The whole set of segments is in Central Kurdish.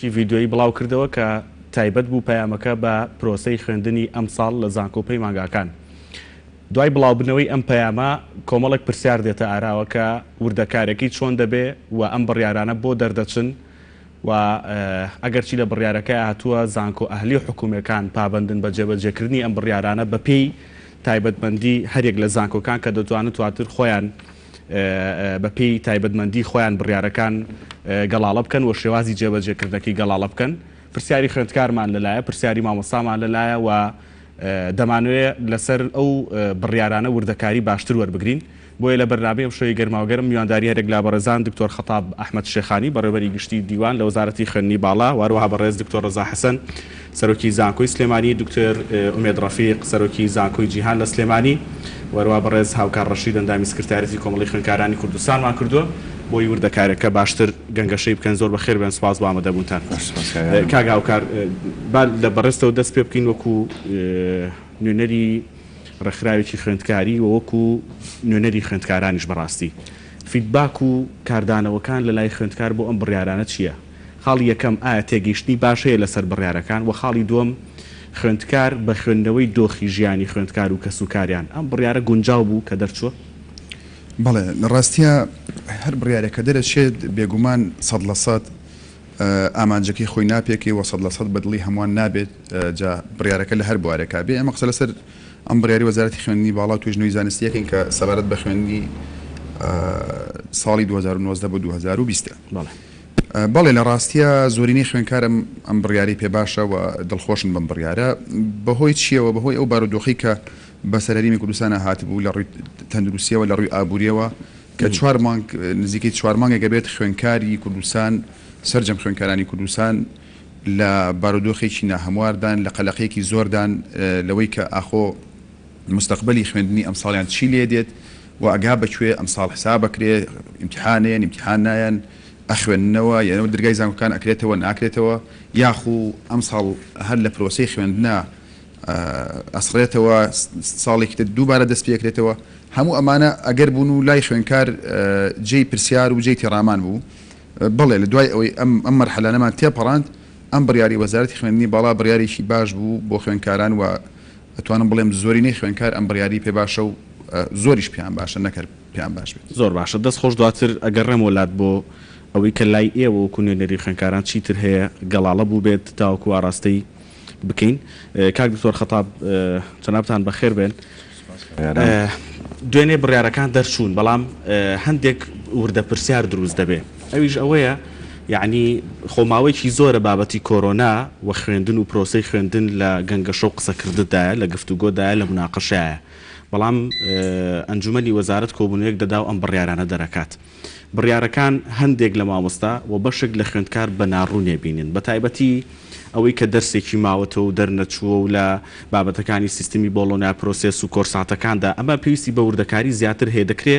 ی ڤیدیۆیی بڵاوکردەوە کە تایبەت بوو پەیامەکە بە پرۆسەی خوێندنی ئەمساڵ لە زانکۆ و پەیمانگاکان. دوای بڵاوبنەوەی ئەم پەیامە کۆمەڵێک پرسیار دێتە ئاراوە کە وردەکارێکی چۆن دەبێ و ئەم بڕیارانە بۆ دەردەچن و ئەگەرچی لە بڕیارەکەیا هاتووە زانکۆ ئەهلی و حکومیەکان پابەندن بە جێبەجێکردنی ئەم بڕیارانە بەپێی تایبەتمەندی هەریەک لە زانکۆکان کە دەتوانن تواتر خۆیان بە پێی تایبەتمەندی خۆیان بڕیارەکان گەڵاڵە بکەن و شێوازی جێبەجێ کردنەکەی گەڵاڵە بکەن. پرسیاری خوێندکارمان لە لایە، پرسیاری مامۆستامان لە لایە و دەمانەوێ لە سەر ئەو بڕیارانە وردەکاری باشتر وەربگرین. بۆیە لە بەرنامەی ئەمشەوی گەرماوگەرم میوانداری هەرێک لە بەڕێزان دکتۆر خەتاب ئەحمەد شێخانی بەڕێوەبەری گشتی دیوان لە وەزارەتی خوێندنی باڵا و هەروەها بەڕێز دکتۆر ڕەزا حەسەن سەرۆکی زانکۆی سلێمانی، دکتۆر ئومێد ڕەفیق، سەرۆکی زانکۆی جیهان لە سلێمانی و هەروا بەڕێز هاوکار ڕەشید ئەندامی سکرتاریەتی کۆمەڵەی خوێندکارانی کوردستانمان کردووە بۆی وردەکاریەکە باشتر گەنگەشەی بکەن زۆر بەخێر بێن سوپاس بۆ ئامەدەبوونتان کاک هاوکار با لە بەڕێزتەوە دەست پێ بکەین وەکو نوێنەری ڕێکخراوێکی خوێندکاری و وەکو نوێنەری خوێندکارانیش بەڕاستی فیدباک و کاردانەوەکان لە لای خوێندکار بۆ ئەم بڕیارانە چیە؟ خاڵی یەکەم، ئایا تێگەیشتنی باش هەیە لەسەر بڕیارەکان؟ وە خاڵی دووەم، خوێندکار بە خوێندنەوەی دۆخی ژیانی خوێندکار و کەسوکاریان، ئەم بڕیارە گونجاو بوو کە دەرچووە؟ بەڵێ، لە ڕاستیا هەر بڕیارێک کە دەرەچێت، بێگومان سەد لە سەد ئامانجەکەی خۆی ناپێکێ و سەد لە سەد بە دڵی هەمووان نابێت، جا بڕیارەکە لە هەر بوارێکا بێ. ئێمە قسە لەسەر ئەم بڕیاری وەزارەتی خوێندنی باڵا و توێژنەوەی زانستی ئەکەین کە سەبارەت بە خوێندنی ساڵی دوو هەزار و نۆزدە بۆ دوو هەزار و بیست ە. بەڵێ لە ڕاستیا زۆرینەی خوێنکارم ئەم بڕیارەی پێ باشە و دڵخۆشن بەم بڕیارە، بەهۆی چییەوە؟ بەهۆی ئەو بارودۆخەی کە بەسەر هەرێمی کوردستانا هاتبوو لە ڕووی تەندروستییەوە، لە ڕووی ئابوورییەوە کە چوار مانگ نزیکەی چوار مانگێک ئەبێت خوێنکاری کوردستان سەرجەم خوێنکارانی کوردستان لە بارودۆخێکی ناهەمواردان، لە قەلەقێکی زۆردان لەوەی کە ئاخۆ مستەقبەلی خوێندنی ئەمساڵیان چی لێدێت؟ وە ئەگا بە کوێ ئەمساڵ حساب ئەکرێ ئیمتیحانێن ئیمتیحان نایەن ئەخوێننەوە یەنە درگای زانکۆکان ئەکرێتەوە ناکرێتەوە یاخو ئەمساڵ هەر لە پرۆسەی خوێندنا ئەسڕێتەوە ساڵێکی تر دووبارە دەست پێ ئەکرێتەوە هەموو ئەمانە ئەگەر بوون و لای خوێنکار جێی پرسیار و جێی تێڕامان بوو بەڵێ لە دوای ئەوەی ئەم ئەم مەرحەلانەمان تێپەڕاند ئەم بڕیاری وەزارەتی خوێندنی باڵا بڕیارێکی باش بوو بۆ خوێندکاران و ئەتوانم بڵێم زۆرینەی خوێنکار ئەم بڕیاری پێ باشە و زۆریش پێیان باشە نەک هەر پێیان باش بێت. زۆر باشە دەست خۆش دواتر ئەگەڕێمەوە لات بۆ ئەوەی کە لای ئێوە وەکو نوێنەری خوێنکاران چی تر هەیە گەڵاڵە بووبێت تاوەکو ئاراستەی بکەین کاک دکتۆر خەتاب جەنابتان بەخێر بێن دوێنێ بڕیارەکان دەرچوون بەڵام هەندێک وردە پرسیار دروست دەبێ. ئەویش ئەوەیە یەعنی خۆ ماوەیەکی زۆرە بابەتی کۆرۆنا و خوێندن و پرۆسەی خوێندن لە گەنگەشە و قسەکرددایە، لە گفتوگۆدایە، لە موناقەشەایە. بەڵام ئەنجومەنی وەزارەت کۆبوونەوەیەک دەدا و ئەم بڕیارانە دەرەکات. بڕیارەکان هەندێک لە مامۆستا و بەشێک لە خوێندکار بە ناڕوونێ بینن. بە تایبەتی ئەوەی کە دەرسێکی ماوەتەوە و دەرنەچووە و لە بابەتەکانی سیستمی بۆڵۆنیا پرۆسێس و کۆرساتەکاندا ئەمە پێویستی بە وردەکاری زیاتر هەیە دەکرێ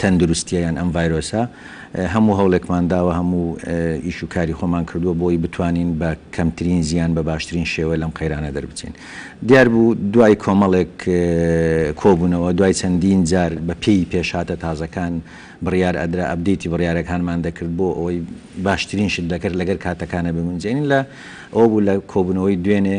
تەندروستیە یان ئەم ڤایرۆسە هەموو هەوڵێکمان داوە هەموو ئیش و کاری خۆمان کردووە بۆی بتوانین بە کەمترین زیان بە باشترین شێوە لەم قەیرانە دەربچین دیار بوو دوای کۆمەڵێک کۆبوونەوە دوای چەندین جار بە پێی پێشهاتە تازەکان بڕیار ئەدرا ئەبدیتی بڕیارەکانمان دەکرد بۆ ئەوەی باشترین شت دەکرد لەگەر کاتەکانە بگونجێنین لە ئەو بوو لە کۆبوونەوەی دوێنێ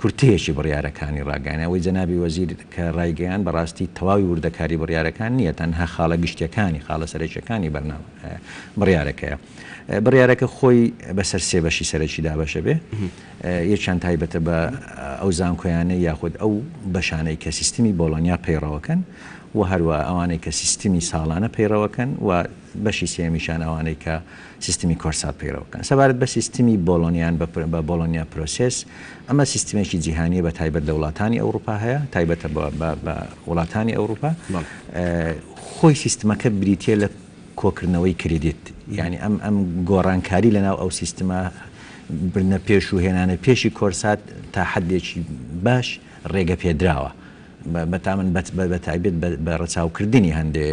کورتەیەکی بڕیارەکانی ڕاگەیانەوەی جەنابی وەزیر کە ڕایگەیاند بەڕاستی تەواوی وردەکاری بڕیارەکان نییە تەنها خاڵە گشتیەکانی خاڵە سەرەکیەکانی بەرنامە بڕیارەکەیە بڕیارەکە خۆی بەسەر سێ بەشی سەرەکی دابەشە بێ یەکیان تایبەتە بە ئەو زانکۆیانە یاخود ئەو بەشانەی کە سیستمی بۆڵۆنیا پەیڕەوەکەن و هەروە ئەوانەی کە سیستمی ساڵانە پەیڕەوەکەن و بەشی سێیەمیشیان ئەوانەی کە سیستمی کۆرسات پەیڕەو بکەن. سەبارەت بە سیستمی بۆڵۆنیان بە Bologna Process، ئەمە سیستمێکی جیهانییە بە تایبەت لە وڵاتانی ئەوڕوپا هەیە، تایبەتە بە وڵاتانی ئەوڕوپا. خۆی سیستمەکە بریتییە لە کۆکردنەوەی کریدیت، یانی ئەم گۆڕانکاری لەناو ئەو سیستمە، بردنە پێش و هێنانە پێشی کۆرسات تا حەدێکی باش ڕێگەپێدراوە. بەتامن بەتایبەت بە رەچاو کردنی هەندێ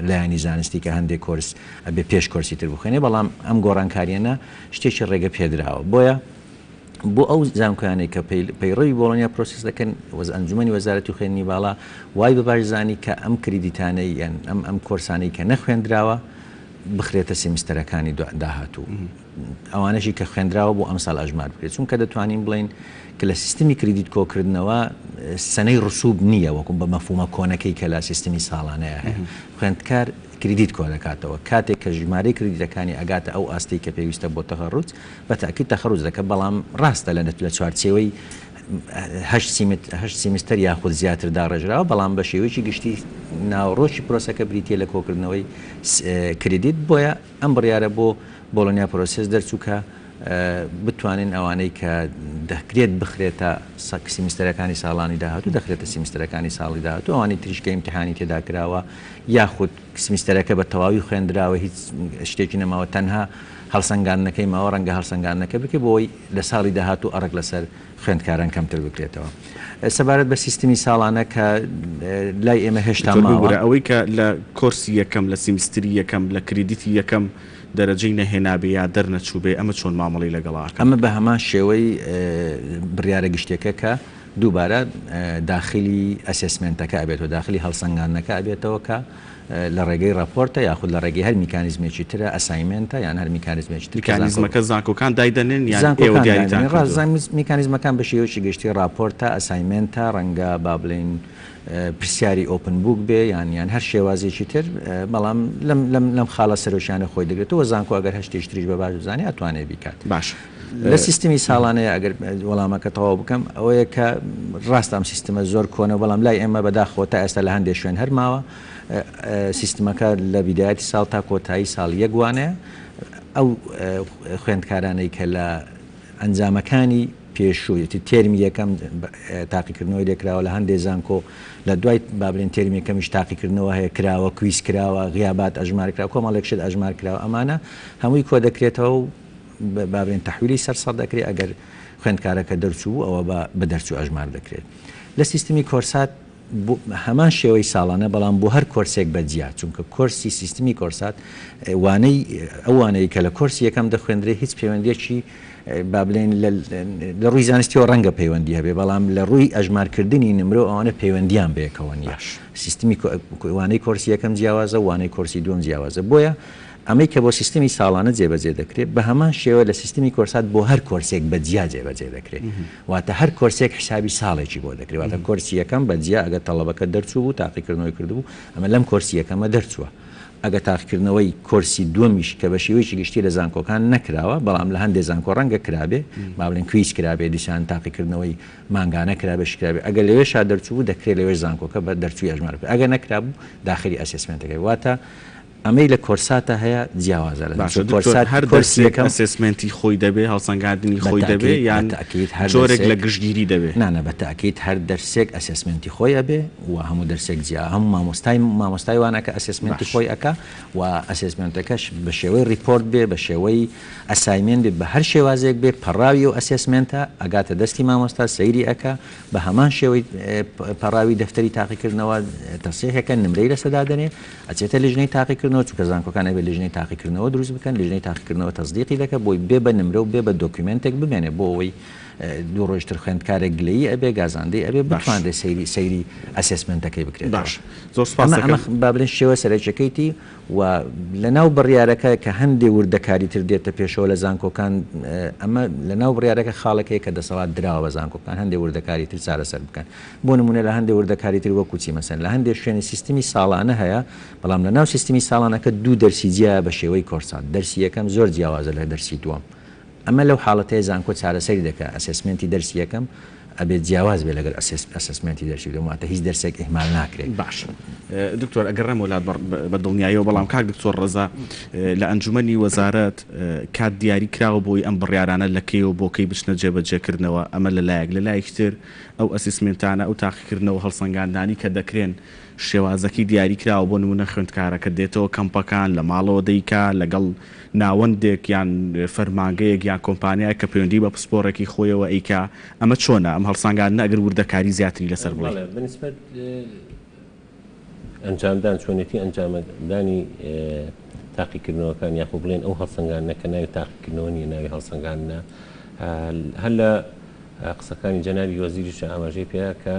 لایەنی زانستی کە هەندێ کۆرس ئەبێ پێش کۆرسی تر بخوێنێ بەڵام ئەم گۆڕانکارییەنە شتێکی رێگە پێدراوە بۆیە بۆ ئەو زانکۆیانەی کە پەیڕەوی بۆڵۆنیا پرۆسس دەکەن وەز ئەنجومەنی وەزارەتی خوێندنی باڵا وای بە باش زانی کە ئەم کریدیتانەی یان ئەم ئەم کۆرسانەی کە نەخوێندراوە بخرێتە سێمیستەرەکانی داهاتوو. ئەوانەشی کە خوێندراوە بۆ ئەمسال ئەژمار بکرێت چونکە دەتوانین بڵێین کە لە سیستمی کریدیت کۆکردنەوە سەنەی ڕسوب نییە وەکو بە مەفهومە کۆنەکەی کە لە سیستمی ساڵانەیە هەیە خوێندکار کریدیت کۆدەکاتەوە کاتێک کە ژمارەی کریدیتەکانی ئەگاتە ئەو ئاستەی کە پێویستە بۆ تەخەڕوج بە تەئکید تەخەڕوج دەکە بەڵام ڕاستە لە لە چوارچێوەی هەشت سیمت هەشت سیمستەر یاخود زیاتر داڕێژراوە بەڵام بە شێوەیەکی گشتی ناوەڕۆکی پرۆسەکە بریتییە لە کۆکردنەوەی کریدیت بۆیە ئەم بڕیارە بۆ بۆڵۆنیا پرۆسێس دەرچوو کە بتوانین ئەوانەی کە دەکرێت بخرێتە سەک سیمیستەرەکانی ساڵانی داهاتوو دەخرێتە سیمیستەرەکانی ساڵی داهاتوو ئەوانی تریش کە ئیمتحانی تێدا کراوە یاخود سیمیستەرەکە بە تەواوی خوێندراوە هیچ شتێکی نەماوە تەنها هەڵسەنگاندنەکەی ماوە ڕەنگە هەڵسەنگاندنەکە بکە بۆی لە ساڵی داهاتوو ئەڕک لەسەر خوێندکاران کەمتر بکرێتەوە. سەبارەت بە سیستمی ساڵانە کە لای ئێمە هێشتا ماوە. دکتۆر ببورە ئەوەی کە لە کۆرسی یەکەم لە سیمیستری یەکەم لە کریدیتی یەکەم دەرەجەی نەهێنابێ یا دەرنەچووبێ ئەمە چۆن مامەڵەی لەگەڵا ئەکەن؟ ئەمە بە هەمان شێوەی بڕیارە گشتیەکە کە دووبارە داخلی ئەسێسمێنتەکە ئەبێتەوە داخلی هەڵسەنگاندنەکە ئەبێتەوە کە. لە ڕێگەی ڕاپۆرتە یاخود لە ڕێگەی هەر میکانیزمێکی ترە، ئەسایمێنتە یان هەر میکانیزمێکی تر کە زانکۆ. میکانیزمەکە زانکۆکان دایدەنێن یان ئێوە زانکۆکان دیاریتان دایدەنێن. ڕاست کردووە؟ زان میکانیزمەکان بە شێوەیەکی گشتی ڕاپۆرتە، ئەسایمێنتە، ڕەنگە با بڵێین پرسیاری ئۆپن بووک بێ یان یان هەر شێوازێکی تر، بەڵام لەم لەم لەم خاڵە سەرەکییانە خۆی دەگرێتەوە و زانکۆ ئەگەر هەر شتێکی تریش بە باش بزانێ ئەتوانێ بیکات. باشە. لە سیستمی ساڵانەیە ئەگەر وەڵامەکە تەواو بکەم ئەوەیە کە ڕاستە ئەم سیستمە زۆر کۆنە بەڵام لای ئێمە بەداخەوە تا ئێستا لە هەندێک شوێن هەر ماوە سیستمەکە لە بیدایەتی ساڵ تا کۆتایی ساڵ یەک وانەیە ئەو خوێندکارانەی کە لە ئەنجامەکانی پێشوویەتی تێرمی یەکەم تاقیکردنەوەی لێکراوە لە هەندێ زانکۆ لە دوای بابلێن تێرمی یەکەمیش تاقیکردنەوە هەیە کراوە کویس کراوە غیابات ئەژمارکرا کۆمەڵێک شت ئەژمار کراوە ئەمانە هەمووی کۆ دەکرێتەوە و با بڵێین تەحویلی سەر سەد ئەکرێت ئەگەر خوێندکارەکە دەرچوو بوو ئەوە با بە دەرچوو ئەژمار دەکرێت لە سیستمی کۆرسات بۆ هەمان شێوەی ساڵانە بەڵام بۆ هەر کۆرسێک بە جیا چونکە کۆرسی سیستمی کۆرسات وانەی ئەوانەیە کە لە کۆرسی یەکەم دەخوێندرێ هیچ پەیوەندیەکی با بڵێن لە ڕووی زانستیەوە ڕەنگە پەیوەندی هەبێ بەڵام لە ڕووی ئەژمارکردنی نمرە ئەوانە پەیوەندیان بەیەکەوە نیە سیستمی وانەی کۆرسی یەکەم جیاوازە وانەی کۆرسی دوم جیاوازە بۆیە ئەمەی کە بۆ سیستمی ساڵانە جێبەجێ دەکرێت بە هەمان شێوە لە سیستمی کۆرسات بۆ هەر کۆرسێک بە جیا جێبەجێ دەکرێت واتە هەر کۆرسێک حیسابی ساڵێکی بۆ دەکرێت واتە کۆرسی یەکەم بە جیا ئەگەر تەڵەبەکە دەرچوو بوو تاقیکردنەوەی کردبوو ئەمە لەم کۆرسی یەکەمە دەرچووە ئەگەر تاقیکردنەوەی کۆرسی دووەمیش کە بە شێوەیەکی گشتی لە زانکۆکان نەکراوە بەڵام لە هەندێ زانکۆ ڕەنگە کرابێ با بڵێن کویز کرابێ دیسان تاقیکردنەوەی مانگانە کرابێ شی کرابێ ئەگەر لەوێشا دەرچوو بوو دەکرێت لەوێش زانکۆکە بە دەرچووی ئەژمار بکرێت ئەگەر نەکرابوو داخلی ئەسێسمێنتەکەی واتە ئەمەی لە کۆرساتا هەیە جیاوازە لە باشە دکتۆر هەر دەرسێک ئەسێسمێنتی خۆی دەبێ هەڵسەنگاندنی خۆی دەبێ یان جۆرێک لە گشتگیری دەبێ؟ نا نا بە تاکید هەر دەرسێک ئەسێسمێنتی خۆی ئەبێ و هەموو دەرسێک جیا هەموو مامۆستای مامۆستای وانە کە ئەسێسمێنتی خۆی ئەکا و ئەسێسمێنتەکەش بە شێوەی ڕیپۆرت بێ بە شێوەی ئەسایمێنت بێ بە هەر شێوازێک بێ پەڕاوی ئەو ئەسێسمێنتە ئەگاتە دەستی مامۆستا سەیری ئەکا بە هەمان شێوەی پەڕاوی دەفتەری تاقیکردنەوە تەسیحێکە نمرەی لەسە دادەنێ ئەچێتە لیژنەی تاقیکردنەوە چونکە زانکۆکان ئەبێت لیژنەی تاقیکردنەوە دروست بکەن لیژنەی تاقیکردنەوە تەسدیقی دەکات بۆی بێ بە نمرە و بێ بە دۆکیومێنتێک بمێنێ بۆ ئەوەی دوو ڕۆژ تر خوێندکارێک گلەیی ئەبێ گازاندەی ئەبێ باش. بتوانرێ سەیری سەیری ئەسێسمێنتەکەی بکرێتەوە باش زۆر سوپاست ئەمە ئەمە دەکەم با بڵێن شێوە سەرەکیەکەیتی و لەناو بڕیارەکە کە هەندێ وردەکاری تر دێتە پێشەوە لە زانکۆکان ئەمە لەناو بڕیارەکە خاڵێک هەیە کە دەسەڵات دراوە بە زانکۆکان هەندێ وردەکاری تر چارەسەر بکەن بۆ نموونە لە هەندێ وردەکاری تر وەکوو چی مەسەن لە هەندێ شوێنێ سیستمی ساڵانە هەیە بەڵام لە ناو سیستمی ساڵانەکە دوو دەرسی جیایە بە شێوەی کۆرسات دەرسی یەکەم زۆر جیاوازە لە دەرسی دووەم ئەمە لەو حاڵەتەیە زانکۆ چارەسەری دەکا ئەسێسمێنتی دەرسی یەکەم ئەبێ جیاواز بێ لەگەل ئەسێسمێنتی دەرسی دووەم واتە هیچ دەرسێک ئیهمال ناکرێ. باشە دکتۆر ئەگەر نەم وەلات بە دڵنیایەوە بەڵام کاک دکتۆر ڕەزا لە ئەنجومەنی وەزارەت کات دیاری کراوە بۆی ئەم بڕیارانە لە کەی و بۆ کەی بچنە جێبەجێ کردنەوە ئەمە لە لایەک لە لایەکی تر ئەو ئەسیسمێنتانە، ئەو تاقیکردنە و هەڵسەنگاندانەی کە دەکرێن، شێوازەکەی دیاری کراوە، بۆ نموونە خوێندکارەکە دێتەوە کەمپەکان، لە ماڵەوە دەیکا، لەگەڵ ناوەندێک یان فەرمانگەیەک یان کۆمپانیایەک کە پەیوەندیی بە پسپۆڕێکی خۆیەوە ئەیکا، ئەمە چۆنە؟ ئەم هەڵسەنگاندنە ئەگەر وردەکاریی زیاتری لەسەر بڵێی. بەڵێ، بە نیسبەت. ئەنجامدان، چۆنێتی ئەنجامە دانی تاقیکردنەوەکان یاخۆ بڵێن ئەو هەڵسەنگاندنە کە ناوی تاقیکردنەوە نیە ناوی هەڵسەنگاندنە هەر لە قسەکانی جەنابی وەزیریش ئاماژەی پێە کە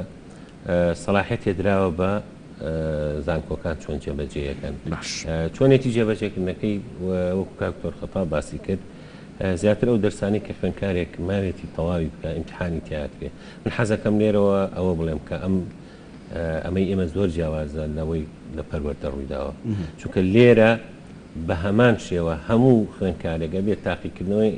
سەلاحێت تێدراوە بە زانکۆکان چۆن جێبەجێەکەن چۆنێتی جێبەجێکردنەکەی وەکو کاکتۆر خەتا باسی کرد زیاتر ئەو دەرسانی کە خوێنکارێک ماوێتی تەواوی بکە ئیمتحانی تیاکرێ من حەزەکەم لێرەوە ئەوە بڵێم کە ئەم ئەمەی ئێمە زۆر جیاوازە لەوەی لە پەروەردە ڕوویداوە، چونکە لێرە بە هەمان شێوە هەموو خوێندکارێک ئەبێت تاقیکردنەوەی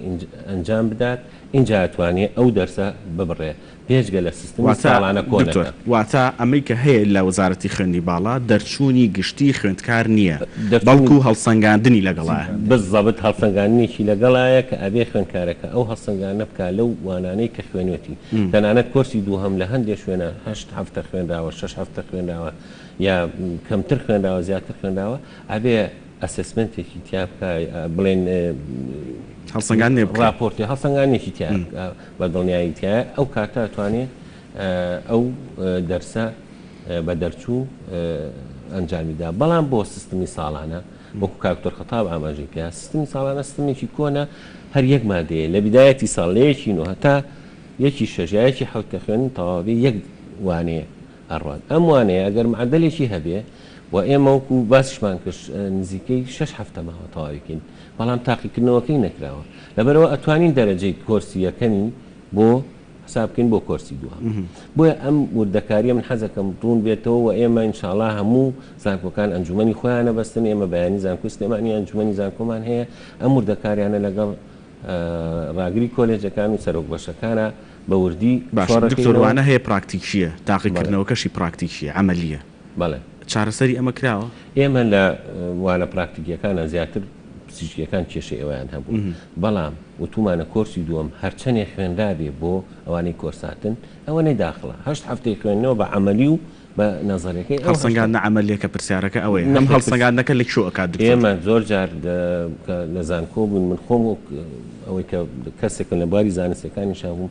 ئەنجام بدات، ئینجا ئەتوانێت ئەو دەرسە ببڕێت، بێجگە لە سیستمی ساڵانە کۆنەکە. واتە ئەمەی کە هەیە لە وەزارەتی خوێندنی باڵا، دەرچوونی گشتی خوێندکار نییە، بەڵکو هەڵسەنگاندنی لەگەڵایە. بالزەبت هەڵسەنگاندنێکی لەگەڵایە کە ئەبێت خوێندکارەکە ئەو هەڵسەنگاندنە بکات لەو وانانەی کە خوێنێتی، تەنانەت کۆرسی دووهەم لە هەندێ شوێنە هەشت هەفتە خوێنراوە، شەش هەفتە خوێنراوە یا کەمتر خوێنراوە زیاتر خوێنراوە ئەبێ ئەسسمێنتێکی تیا بکا بڵێن هەڵسەنگاندنێ بکا ڕاپۆرتێ هەڵسەنگانێکی تیا بکا بە دڵنیایی تیایە ئەو کاتە ئەتوانێ ئەو دەرسە بە دەرچوو ئەنجامی دا بەڵام بۆ سستمی ساڵانە وەکو کاک دکتۆر خەتاب ئاماژەی پێا سیستمی ساڵانە سیستمێکی کۆنە هەر یەک مادەیە لە بدایەتی ساڵ لە یەکی نۆ هەتا یەکی شەش یا یەکی حەوت کە خوێندن تەواو بێ یەک وانەیە ئەڕوات ئەم وانەیە ئەگەر معەدەلێکی هەبێ و ئێمە وەکو باسیشمان کرد نزیکەی شەش هەفتە ماوە تەواوی بکەین بەڵام تاقیکردنەوەکەی نەکراوە لەبەرئەوە ئەتوانین دەرەجەی کۆرسی یەکەمی بۆ حساب بکەین بۆ کۆرسی دووەم بۆیە ئەم وردەکاریە من حەزەکەم ڕوون بێتەوە و ئێمە انشاءڵا هەموو زانکۆکان ئەنجومی خۆیانە بەستن ئێمە بەیانی زانکۆی سلێمانی ئەنجومی زانکۆمان هەیە ئەم وردەکاریانە لەگەڵ ڕاگری کۆلێجەکان و سەرۆک بەشەکانە بە وردی باشڕوانە هەیە پراکتیکیە تاقیکردنەوەکەشی پراکتیکیە ئەمەلیە بەڵێ. چارەسەری ئەمە کراوە؟ ئێمە لە وانە پراکتیکیەکانا زیاتر پزیشکیەکان کێشەی ئەوەیان هەبوو بەڵام وتومانە کۆرسی دووەم هەرچەنێ خوێنرابێ بۆ ئەوانەی کۆرساتن ئەوەنەی داخڵە هەشت هەفتەی خوێندنەوە بە عەمەلی و بە نەزەریەکەی ئەو هەڵسەنگاندنە عەمەلیەکە پرسیارەکە ئەوەیە ئەم هەڵسەنگاندنەکە لە کوێ ئەکات دکتۆر؟ ئێمە زۆر جار کە لە زانکۆ بووین من خۆم وەک ئەوەی کە کەسێکم لە بواری زانستیەکانیشا بووم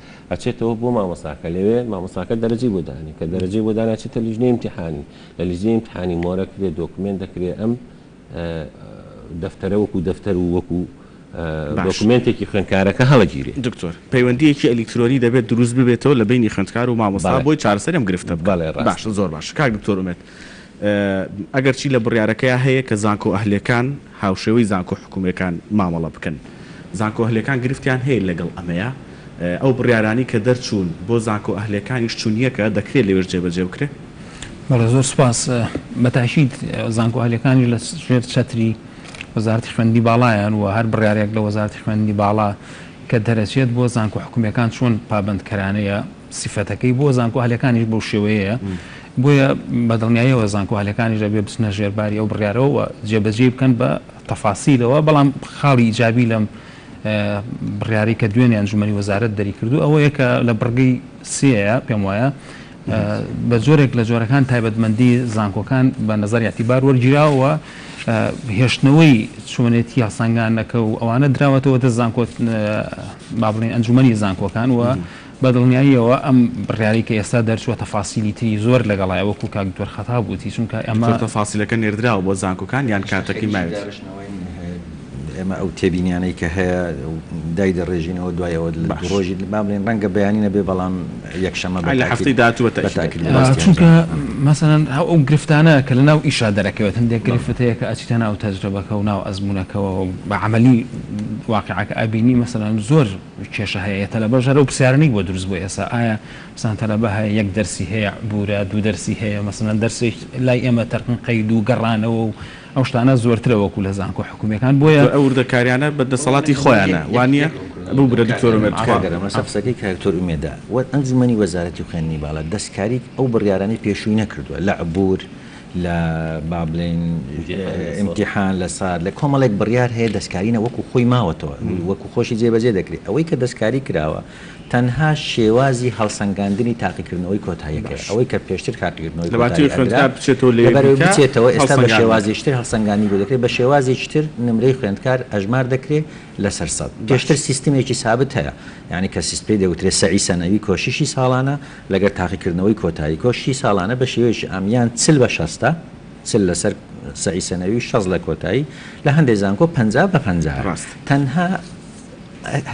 ئەچێتەوە بۆ مامۆستاکە لەوێ مامۆستاکە دەرەجەی بۆ دانێ کە دەرەجەی بۆ دانا ئەچێتە لیژنەی ئیمتیحانی لە لیژنەی ئیمتیحانی مۆرە کرێ دۆکمێنت دەکرێ ئەم دەفتەرە وەکوو دەفتەر و وەکوو باش دۆکمێنتێکی خوێندکارەکە هەڵەگیرێ. دکتۆر، پەیوەندییەکی ئەلیکترۆنی دەبێت دروست ببێتەوە لە بەینی خوێندکار و مامۆستا بەڵێ بۆی چارەسەری ئەم گرفتە بکەن. بەڵێ ڕاستە. باشە زۆر باشە کاک دکتۆر ئومێد. ئەگەرچی لە بڕیارەکەیا هەیە کە زانکۆ ئەهلیەکان هاوشێوەی زانکۆ حکومیەکان مامەڵە بکەن، زانکۆ ئەهلیەکان گرفتیان هەیە لەگەڵ ئەمەیا، ئەو بڕیارانەی کە دەرچوون بۆ زانکۆ ئەهلیەکانیش چوون یەکە، دەکرێت لەوێش جێبەجێ بکرێت. بەڵێ زۆر سوپاس، بە تاکید زانکۆ ئەهلیەکانیش لە ژێر چەتری وەزارەتی خوێندنی باڵایەن و هەر بڕیارێک لە وەزارەتی خوێندنی باڵا کە دەرەچێت بۆ زانکۆ حکومیەکان چۆن پابەندکەرانەیە، سیفەتەکەی بۆ زانکۆهەلەکانیش بەو شێوەیەیە، بۆیە بە دڵنیایەوە زانکۆهەلەکانیش ئەبێ بچنە ژێر باری ئەو بڕیارەوە و جێبەجێی بکەن بە تەفاسیلەوە، بەڵام خاڵی ئیجابی لەم بڕیارەی کە دوێنێ ئەنجومەنی وەزارەت دەری کردوو ئەوەیە کە لە بڕگەی سێیە پێم وایە بە جۆرێک لە جۆرەکان تایبەتمەندی زانکۆکان بە نەزەری ئیعتیبار وەرگیراوە و هێشتنەوەی چۆنێتی هەڵسەنگانەکە و ئەوانە دراوەتەوە دەست زانکۆ با بڵێین ئەنجومەنی زانکۆکان و بە دڵنیاییەوە ئەم بڕیارەی کە ئێستا دەرچووە تەفاسیلی تری زۆر لەگەڵایە وەکو کاک دکتۆر خەتاب وتی چونکە ئێمە. تۆ تەفاسیلەکە نێردراوە بۆ زانکۆکان یان کاتەکەی ماویت؟ ئێمە ئەو تێبینیانەی کە هەیە دایدەڕێژینەوە دوای ئەوە لە دوو ڕۆژی با بڵێین ڕەنگە بەیانی نەبێ بەڵام یەکشەممە بە تاکید بە تاکید لە ڕاستیان دەڵێم. چونکە مەسەلەن ئەو گرفتانە کە لە ناو ئیشا دەرەکەوێت هەندێک گرفت هەیە کە ئەچیتە ناو تەجرەبەکە و ناو ئەزموونەکەوە و بە عەمەلی واقیعەکە ئەبینی مەسەلەن زۆر کێشە هەیە یە تەلەبە ژەرەو پرسیارنیک بۆ دروست بوە ئێسا ئایا مەسەلەن تەلەبە هەیە یەک دەرسی هەیە عبورە دوو دەرسی هەیە مەسەلەن دەرسێک لای ئێمە تەرقن قەید و گەڕانەوە و ئەو شتانە زۆرترە وەکو لە زانکۆ حکومیەکان بۆیە ئەو وردەکاریانە بە دەسەڵاتی خۆیانە وانیە ببورە دکتۆر ئومێد تکایە. ئاوا گەرمە سە قسەکەی کە کتۆر ئومێدە وەت ئەنجومەنی وەزارەتی خوێندنی باڵا دەستکاری ئەو بڕیارانەی پێشوی نەکردوە لە عبور، لە با بڵێین ئیمتیحان لە سات لە کۆمەڵێک بڕیار هەیە دەستکاری نە وەکو خۆی ماوەتەوە وەکو خۆشی جێبەجێ دەکرێ ئەوەی کە دەستکاری کراوە تەنها شێوازی هەڵسەنگاندنی تاقیکردنەوەی کۆتاییەکەیە ئەوەی کە پێشتر تاقیکردنەوەی کۆتایی ئەدرا لەبەرئەوەی بچێتەوە ئێستا بە شێوازیشتر هەڵسەنگاندنی بۆ دەکرێ بە شێوازیشتر نمرەی خوێندکار ئەژمار دەکرێ لەسەر سەد. پێشتر سیستمێکی سابت هەیە، یانی کە سیست پێی دەوترێت سەعی سەنەوی کۆششی ساڵانە، لەگەر تاقیکردنەوەی کۆتایی. کۆششی ساڵانە بە شێوەیەکی ئامییان چل بە شەستە، چل لەسەر سەعی سەنەوی و شەست لە کۆتایی، لە هەندێ زانکۆ پەنجا بە پەنجایە. ڕاست. تەنها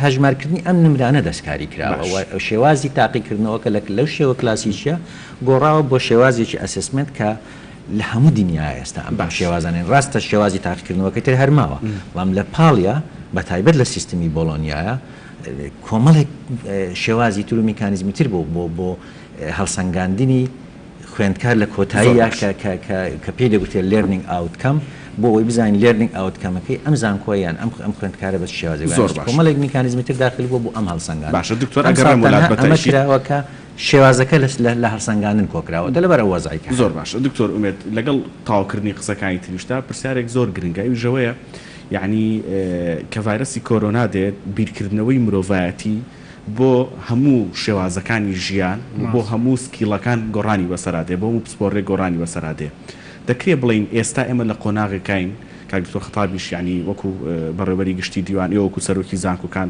هەژمارکردنی ئەم نمرانە دەستکاری کراوە و باش. شێوازی تاقیکردنەوەکە لە لەو شێوە کلاسیکییە گۆڕاوە بۆ شێوازێکی ئەسسمێنت کە. لە هەموو دنیا ئێستا ئەم شێوازانە هەن، ڕاستە شێوازی تاقیکردنەوەکەی تر هەر ماوە، بەڵام لە پاڵیا بە تایبەت لە سیستمی بۆڵۆنیایا کۆمەڵێک شێوازی تر و میکانیزمی تر بۆ بۆ بۆ هەڵسەنگاندنی خوێندکار لە کۆتاییا کە پێی دەگوترێت لێرنینگ ئاوتکەم بۆ ئەوەی بزانین لێرنینگ ئاوتکەمەکەی ئەم زانکۆ یان ئەم ئەم خوێندکارە بە چ شێوازێک زۆر باشە کۆمەڵێک میکانیزمی تر داخل بووە بۆ ئەم هەڵسەنگاندنە. باشە دکتۆر ئەگەڕێم وەلات بە تەئکید. شێوازەکە لە هەڵسەنگاندن کۆکراوە تە لەبەر ئەو وەزعەی کە هەیە. زۆر باشە دکتۆر ئومێد لەگەڵ تەواوکردنی قسەکانی تریشتا پرسیارێک زۆر گرنگە ئەویش ئەوەیە یەعنی کە ڤایرەسی کۆرۆنا دێت بیرکردنەوەی مرۆڤایەتی بۆ هەموو شێوازەکانی ژیان و بۆ هەموو سکیڵەکان گۆڕانی بەسەرا دێ بۆ هەموو پسپۆڕێک گۆڕانی بەسەرا دێ دەکرێ بڵێین ئێستا ئێمە لە قۆناغێکاین کاک دکتۆر خەتابیش یەعنی وەکوو بەڕێوەبەری گشتی دیوان ئێوە وەکوو سەرۆکی زانکۆکان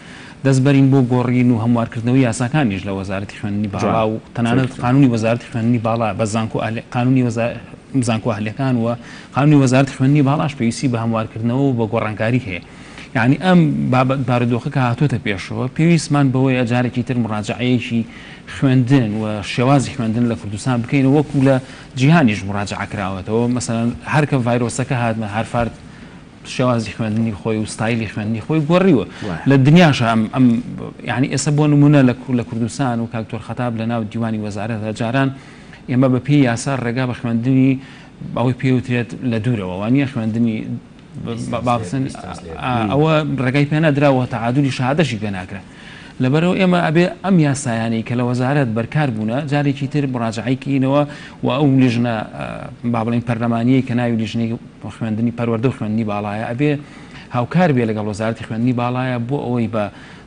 دەست بەرین بۆ گۆڕین و هەموارکردنەوەی یاساکانیش لە وەزارەتی خوێندنی باڵا و تەنانەت قانونی وەزارەتی خوێندنی باڵا بە زانکۆ ئەهلی قانونی زانکۆ ئەهلیەکان و قانونی وەزارەتی خوێندنی باڵاش پێویستی بە هەموارکردنەوە و بە گۆڕانکاری هەیە یعنی ئەم بابەت بارودۆخە کە هاتۆتە پێشەوە پێویستمان بەوەیە جارێکی تر مڕاجعەیەکی خوێندن و شێوازی خوێندن لە کوردستان بکەینەوە وەکو لە جیهانیش مڕاجعە کراوەتەوە مەسەلەن هەرکە ڤایرۆسەکە هاتمە هارفارد شێوازی خوێندنی خۆی و ستایلی خوێندنی خۆی گۆڕیوە لە دنیاشە ئەم ئەم یعنی ئێستا بۆ نمونە لە لە کوردستان و کاکتۆر خەتاب لە ناو دیوانی وەزارەت هەجاران ئێمە بە پێی یاسا ڕێگا بە خوێندنی ئەوەی پێوترێت لە دوورەوە وانە خوێندنی باڵسن ئەوە ڕێگای پێ نەدراوە تەعادلی شادەشی پێ ناکرێت لەبەرئەوە ئێمە ئەبێ ئەم یاسایانەی کە لە وەزارەت بەرکار بوونە جارێکی تر مراجعەی کەینەوە و ئەو لیژنە با بڵێین پەرلەمانیەی کە ناوی لیژنەی خوێندنی پەروەردە و خوێندنی باڵایە ئەبێ هاوکار بێ لەگەڵ وەزارەتی خوێندنی باڵایە بۆ ئەوەی بە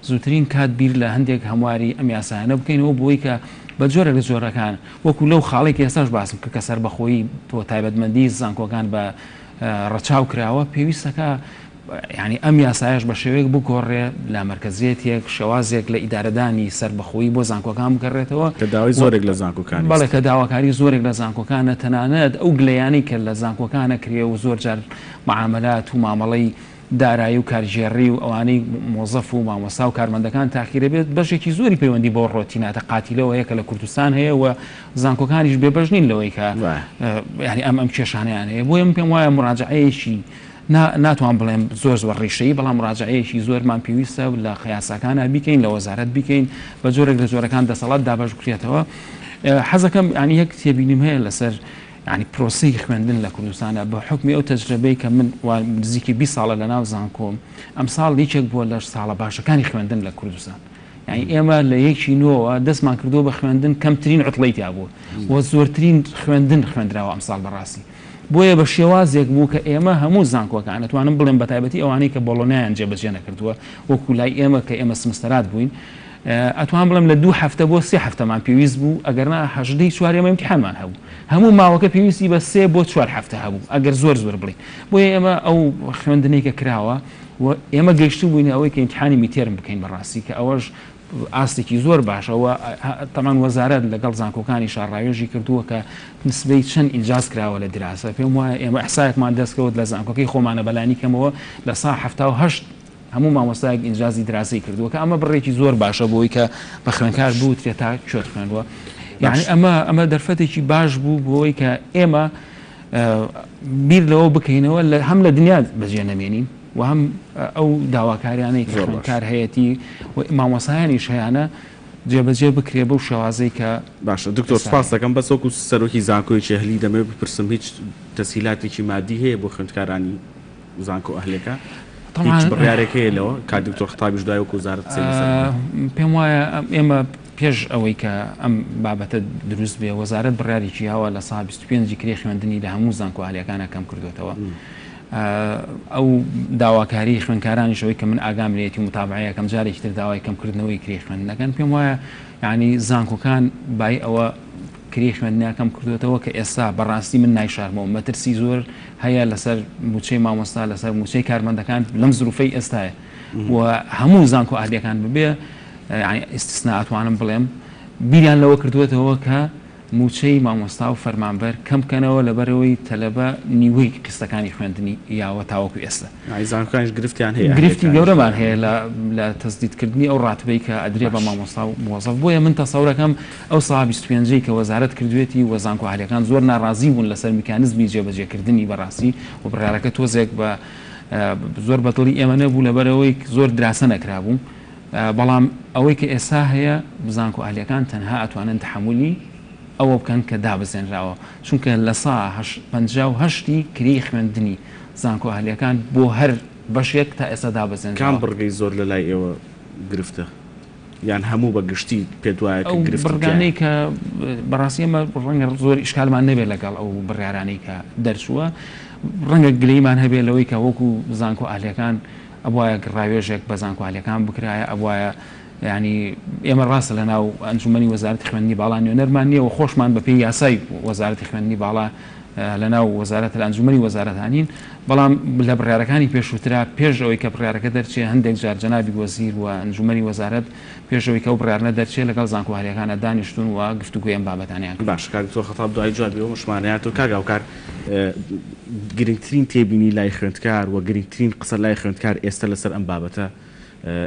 زووترین کات بیر لە هەندێک هەمواری ئەم یاسایانە بکەینەوە بۆی کە بە جۆرە لە جۆرەکان وەکو لەو خاڵی کە ئێستاش باسم کە کە سەربەخۆیی بۆ تایبەتمەندی زانکۆکان بە ڕەچاو کراوە پێویستەکە یانی ئەم یاسایەش بە شێوەیەک بگۆڕرێ لە مەرکەزیەتێک، شێوازێک لە ئیدارەدانی سەربەخۆیی بۆ زانکۆکان بکەڕێتەوە. کە داوای زۆرێک لە زانکۆکانی است. بەڵێ کە داواکاری زۆرێک لە زانکۆکانە، تەنانەت ئەو گلەیانەی کە لە زانکۆکان ئەکرێ و زۆر جار معامەلات و مامەڵەی دارایی و کارگێڕی و ئەوانەی مۆزەف و مامۆستا و کارمەندەکان تاخیرە بێت بەشێکی زۆری پەیوەندی بەو ڕۆتیناتە قاتیلەوە هەیە کە لە کوردستان هەیە و زانکۆکانیش بێبەش نین لەوەی کە یانی ئەم ئەم کێشانەیان هەیە بۆیە من پێم وایە موراجەعەیەکی نا، ناتوان بڵێم زۆر زۆر ڕیشەیی، بەڵام مراجەعەیەکی زۆرمان پێویستە لە قەیاساکانا بیکەین، لە وەزارەت بیکەین، بە جۆرێک لە جۆرەکان دەسەڵات دابەش بکرێتەوە. حەزەکەم یانی یەک تێبینیم هەیە لەسەر یانی پرۆسەی خوێندن لە کوردستانا، بە حوکمی ئەو تەجرەبەی کە من وا نزیکی بیست ساڵە لە ناو زانکۆم، ئەمساڵ یەکێک بووە لە ساڵە باشەکانی خوێندن لە کوردستان. یانی ئێمە لە یەکی نۆوە دەستمان کردووە بە خوێندن، کەمترین عوتڵەی تیا بووە و زۆرترین خوێندن خوێندراوە ئەمساڵ بەڕاستی. بۆیە بە شێوازێک بوو کە ئێمە هەموو زانکۆکان، ئەتوانم بڵێم بەتایبەتی ئەوانەی کە بۆڵۆنیایان جێبەجێ نەکردووە، وەکوو لای ئێمە کە ئێمە سمستەرات بووین، ئەتوانم بڵێم لە دوو هەفتە بۆ سێ هەفتەمان پێویست بوو، ئەگەرنا هەژدە ی چوار ئێمە ئیمتیحانمان هەبوو. هەموو ماوەکە پێویستی بە سێ بۆ چوار هەفتە هەبوو، ئەگەر زۆر زۆر بڵێین. بۆیە ئێمە ئەو خوێندنەی کە کراوە و ئێمە گەیشتبووینە ئەوەی کە ئیمتیحانی میدتێرم بکەین بەڕاستی کە ئەوەش ئاستێکی زۆر باشە و تەبعەن وەزارەت لەگەڵ زانکۆکانی شاڕاوێژی کردووە کە نسبەی چەند ئینجاز کراوە لە دراسە پێم وایە ئێمە ئیحسایەکمان دەست کەوت لە زانکۆکەی خۆمانە بە لانی کەمەوە لە سا حەفتا و هەشت هەموو مامۆستایەک ئینجازی دراسەی کردووە کە ئەمە بڕێکی زۆر باشە بۆی کە بە خوێندکار بوترێت تا کوێت خوێندوە یعنی ئەمە ئەمە دەرفەتێکی باش بوو بۆی کە ئێمە بیر لەوە بکەینەوە لە هەم لە دنیا بەجێ نەمێنین وە هەم ئەو داواکاریانەی کە خوێندکار هەیەتی و مامۆستایانیش هەیانە جێبەجێ بکرێ بەو شێوازەی کە. باشە دکتۆر سپاست دەکەم بەس وەکو سەرۆکی زانکۆیەکی ئەهلی دەمەوێت بپرسم هیچ تەسهیلاتێکی مادی هەیە بۆ خوێندکارانی زانکۆ ئەهلەکە؟ هیچ بڕیارێک هەیە لەوە؟ کاک دکتۆر خەتابیش دوای وەکو وزارەت قسەی لەسەر بکات. پێم وایە ئێمە پێش ئەوەی کە ئەم بابەتە دروست بێ وەزارەت بڕیارێکی هەوە لە سا بیست و پێنج ی کرێ خوێندنی لە هەموو زانکۆ ئەهلیەکانا کەم کردۆتەوە. ئەو داواکاریی خوێندکارانیش ئەوەی کە من ئاگام لێیەتی و متابعەی ئەکەم جارێکی تر داوای کەمکردنەوەی کرێی خوێندن ئەکەن، پێم وایە یانی زانکۆکان بای ئەوە کرێی خوێندنیان کەم کردووەتەوە کە ئێستا بەڕاستی من نایشارمەوە، مەترسی زۆر هەیە لەسەر مووچەی مامۆستا، لەسەر مووچەی کارمەندەکان لەم زرووفەی ئێستایە و هەموو زانکۆ ئەهلییەکان ببێ یانی ئیستیسنا ئەتوانم بڵێم بیریان لەوە کردووەتەوە کە مووچەی مامۆستا و فەرمانبەر کەم بکەنەوە لەبەرئەوەی تەلەبە نیوەی قیستەکانی خوێندنی یاوە تاوەکو ئێستا. ئەی زانکۆکانیش گرفتیان هەیە هەندێکانیش. گرفتی گەورەمان هەیە لە لە تەسدید کردنی ئەو ڕاتبەی کە ئەدرێ بە مامۆستا و موەزەف بۆیە من تەسەور ئەکەم ئەو سەها بیست و پێنج ەی کە وەزارەت کردوێتی و زانکۆ ئەهلیەکان زۆر ناڕازی بوون لەسەر میکانزمی جێبەجێ کردنی بەڕاستی و بڕیارەکە تۆزێک بە زۆر بەدڵی ئێمە نەبوو لەبەرئەوەی زۆر دراسە نەکرابوو بەڵام ئەوەی کە ئێستا هەیە زانکۆ ئەهلیەکان تەنها ئەتوانن تەحەمولی ئەوە بکەن کە دابەزێنراوە چونکە لە سا پەنجا و هەشت ی کرێی خوێندنی زانکۆ ئەهلیەکان بۆ هەر بەشێک تا ئێستا کام دابەزێنراوە. بڕگەی زۆر لە لای ئێوە گرفتە یان هەموو بە گشتی پێت وایە کە ئەو گرفتی تیایە؟ بڕگانەی کە بەڕاستی ئێمە ڕەنگە زۆر ئیشکالمان نەبێت لەگەڵ ئەو بڕیارانەی کە دەرچووە ڕەنگە گلەیمان هەبێت لەوەی کە وەکو زانکۆ ئەهلیەکان ئەبوایە ڕاوێژێک بە زانکۆالیەکان بکرایە ئەبوایە یانی ئێمە ڕاستە لە ناو ئەنجومەنی وەزارەتی خوێندنی باڵا نوێنەرمان نییە و خۆشمان بەپێی یاسای وەزارەتی خوێندنی باڵا لە ناو وەزارەت لە ئەنجومەنی وەزارەتانین بەڵام لە بڕارەکانی پێشووترا پێش ئەوەی کە بڕارەکە دەرچێ هەندێک جار جەنابی وەزیر و ئەنجومەنی وەزارەت پێش ئەوەی کە ئەو بڕیارنە دەرچێ لەگەڵ زانکۆ هەرێکانە دانیشتوون و گفتوگۆی ئەم بابەتانەیان کرد. باشە کاک دکتۆر خەتاب دوای جوابی ئەو هەشمانەیە تۆ کاک هاوکار گرنگترین تێبینی لای خوێندکار وە گرنگترین قسە لای خوێندکار ئێستە لەسەر ئەم بابەتە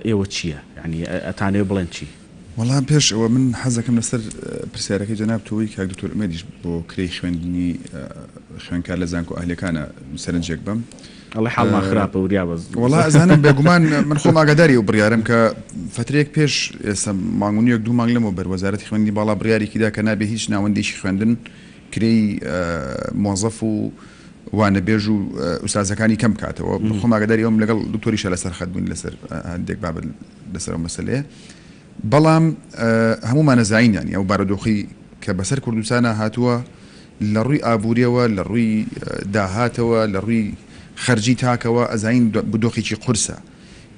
ئێوە چیە یانی ئەتانەوێ بڵێن چی؟ وەڵا پێش ئەوە من حەزەکەم لەسەر پرسیارەکەی جەناب تۆوەی کاک دکتۆر ئومێدیش بۆ کرێی خوێندنی خوێندکار لە زانکۆ ئەهلەکانە سەرنجێک بەم. ئەڵێ حاڵمان خراپە وریا بە زوو. وەڵا ئەزانم بێگومان من خۆم ئاگاداری ئەو بڕیارەم کە فەترەیەک پێش ئێستا مانگ و نیوێک دوو مانگ لەمەوبەر وەزارەتی خوێندنی باڵا بڕیارێکی دا کە نابێ هیچ ناوەندێکی خوێندن کرێی مۆزەف و وانەبێژ و ئوستازەکانی کەم بکاتەوە خۆم ئاگاداری ئەوم لەگەڵ دکتۆریشا لەسەر خەت بووین لەسەر هەندێک بابەت لەسەر ئەو مەسەلەیە بەڵام هەموومان ئەزاین یانی ئەو بارودۆخەی کە بەسەر کوردستانا هاتووە لە ڕووی ئابووریەوە، لە ڕووی داهاتەوە، لە ڕووی خەرجی تاکەوە ئەزاین دۆخێکی قورسە.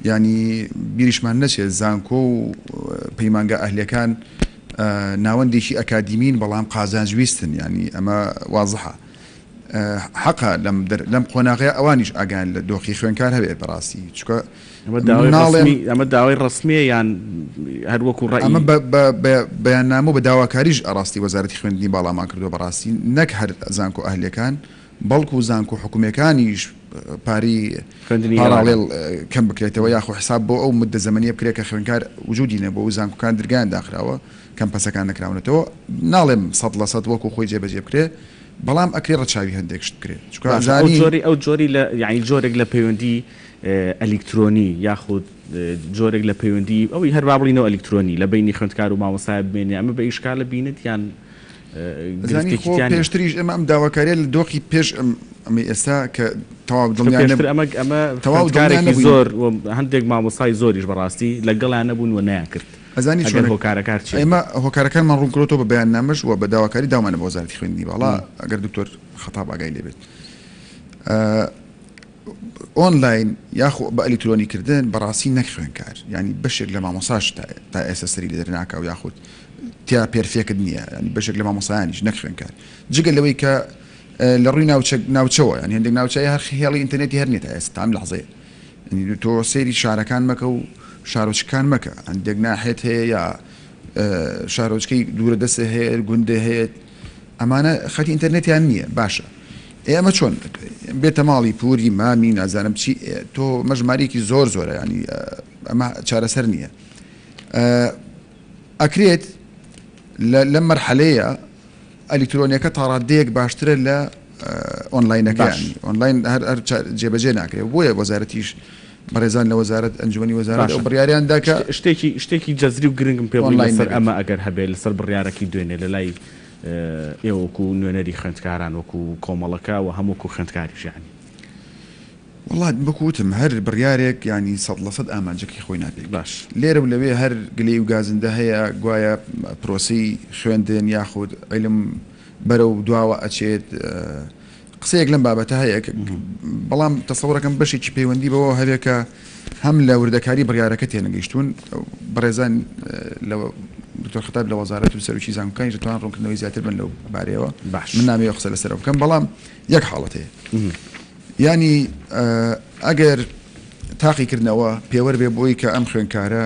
یانی بیریشمان نەچێت زانکۆ و پەیمانگا ئەهلیەکان ناوەندێکی ئەکادیمین بەڵام قازانج ویستن یانی ئەمە وازحە. حەقە لەم در لەم قۆناغەیا ئەوانیش ئاگایان لە دۆخی خوێنکار هەبێت بەڕاستی چوکە ئەمە داوای مناڵێن ڕەسمی ئەمە داوای ڕەسمیە یان هەر وەکو ڕەئی ئەمە بە بە بە بەیاننامە و بە داواکاریش ئەڕاستی وەزارەتی خوێندنی باڵامان کردوە بەڕاستی نەک هەر زانکۆ ئەهلیەکان بەڵکو زانکۆ حکومیەکانیش پارەی خوێندنی ئێواران پاراڵێڵ کەم بکرێتەوە یاخۆ حساب بۆ ئەو مدە زەمەنیە بکرێت کە خوێنکار وجودی نەبوە و زانکۆکان درگایان داخراوە کەمپەسەکان نەکراونەتەوە ناڵێم سەد لە سەد وەکو خۆی جێبەجێ بکرێ بەڵام ئەکرێ ڕەچاوی هەندێک شت بکرێ چونکە باشە ئەو ئەزانی جۆری ئەو جۆری لە یانی جۆرێک لە پەیوەندی ئەلیکترۆنی یاخود جۆرێک لە پەیوەندی ئەوی هەر با بڵینەوە ئەلیکترۆنی لە بەینی خوێندکار و مامۆستایە بمێنێ ئەمە بە ئیشکالە بینت یان ئەزانی گرفتێکی خۆ تیا نییە؟ پێشتریش ئێمە ئەم داواکاریە لە دۆخی پێش ئەم ئەمەی ئێستا کە تەواو چونکە دڵنیا پێشتر نەبوو ئەمە ئەمە تەواو دڵنیا خوێندکارێکی نەبووین زۆر و هەندێک مامۆستای زۆریش بەڕاستی لەگەڵیان نەبوون و نەیان کرد ئەزانی چۆنە؟ ئێمە هۆکارەکانمان ڕوونکرۆتەوە بە بەیاننامەش و بە داواکاری داومانە بە وەزارەتی خوێندنی باڵا ئەگەر دکتۆر خەتاب ئاگای لێ بێت. ئۆنلاین یاخۆ بە ئەلیکترۆنی کردن بەڕاستی نەک خوێنکار یعنی بەشێک لە مامۆساش تا ئێستا سەری لێ دەرناکە و یاخود تیا پێرفێکت نییە ینی بەشێک لە مامۆسایانیش نەک خوێنکار جگە لەوەی کە لە ڕووی ناوچە ناوچەوە یان هێندێک ناوچەیە هەر خێڵی ئینتەرنێتی هەر نیە تا ئێستا تام لەحزەیە تۆ سەیری شارەکان مەکە و شارۆچکەکان مەکە، هەندێک ناحێت هەیە یا شارۆچکەی دوورە دەستێ هەیە، گوندێ هەیەت ئەمانە خەتی ئینتەرنێتیان نییە باشە ئێ ئەمە چۆن بێتە ماڵی پووری مامی نازانم چی تۆ مەژمارێکی زۆر زۆرە ینی ئەمە چارەسەر نییە ئەکرێت لەم مەرحەلەیە ئەلیکترۆنیەکە تاڕاددەیەک باشترە لە ئۆنلاینەکە یانی ئۆنلاین هەر جێبەجێ ناکرێت بۆیە وەزارەتیش بەڕێزان لە وەزارەت ئەنجومی وەزارەت و بڕیاریان داکە شتێکی شتێکی جەزری و گرنگم پێ بڵی لەسەر ئەمە ئەگەر هەبێت لەسەر بڕیارەکەی دوێنێ لە لای ئێوەکو نوێنەری خوێندکاران وەکو کۆمەڵەکە و هەمووکو خوێندکاریش یانی. وەڵا وەکو وتم هەر بڕیارێک یانی سەد لە سەد ئامانجەکەی خۆی ناپێک باش. لێرە و لەوێ هەر گلەی و گازندە هەیە گوایە پرۆسەی خوێندن یاخود عیلم بەرەو دواوە ئەچێت قسەیەک لەم بابەتە هەیە بەڵام تەسەوڕەکەم بەشێکی پەیوەندی بەوە هەبێ کە هەم لە وردەکاری بڕیارەکە تێنەگەیشتون بەڕێزان لە دکتۆر خەتاب لە وەزارەت و سەرکی زانکۆکانی دەتوان ڕوونکردنەوەی زیاتر بن لەو بارەیەوە باش من نامەوێ قسە لەسەرەوە بکەم بەڵام یەک حاڵەت هەیە یانی ئەگەر تاقیکردنەوە پێوەر بێ بۆی کە ئەم خوێندکارە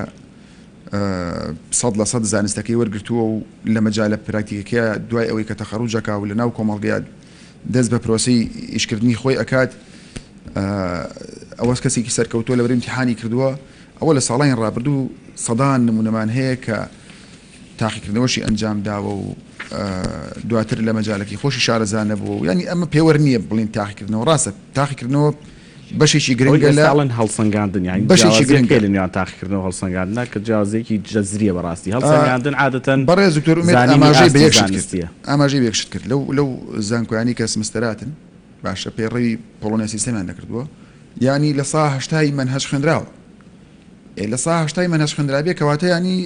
سەد لە سەد زانستەکەی وەرگرتووە و لە مەجالە پراکتیکەکەیا دوای ئەوەی کە تەخەروج ئەکا و لە ناو کۆمەڵگەیا دەست بە پرۆسەی ئیشکردنی خۆی ئەکات ئەوە کەسێکی سەرکەوتووە لەبەر ئیمتیحانی کردووە ئەوە لە ساڵانی ڕابردوو سەدان نموونەمان هەیە کە تاقیکردنەوەشی ئەنجام داوە و دواتر لە مەجالەکەی خۆشی شارەزا نەبووە و یانی ئەمە پێوەر نییە بڵێین تاقیکردنەوە ڕاستە تاقیکردنەوە بەشێکی گرنگە لە ئەوەی ئێستا ئەڵێن هەڵسەنگاندن یانی بەشێکی گرنگە جیاوازییەک هەیە لە نێوان تاقیکردن و هەڵسەنگاندنا کە جیاوازییەکی جەزرییە بەڕاستی هەڵسەنگاندن عادەتەن بەڕێز دکتۆر ئومێد زانینی ئاماژەی بە ئاستی یەک شت کرد زانستییە ئاماژەی بە یەک شت کرد لەو لەو زانکۆیانەی کە سمستەراتن باشە پەیڕەوی پۆڵۆنیا سیستەمیان نەکردووە یانی لە سا هەشتای مەنهەج خوێندراوە ئێ لە سا هەشتای مەنهەج خوێندرابێ کەواتە یانی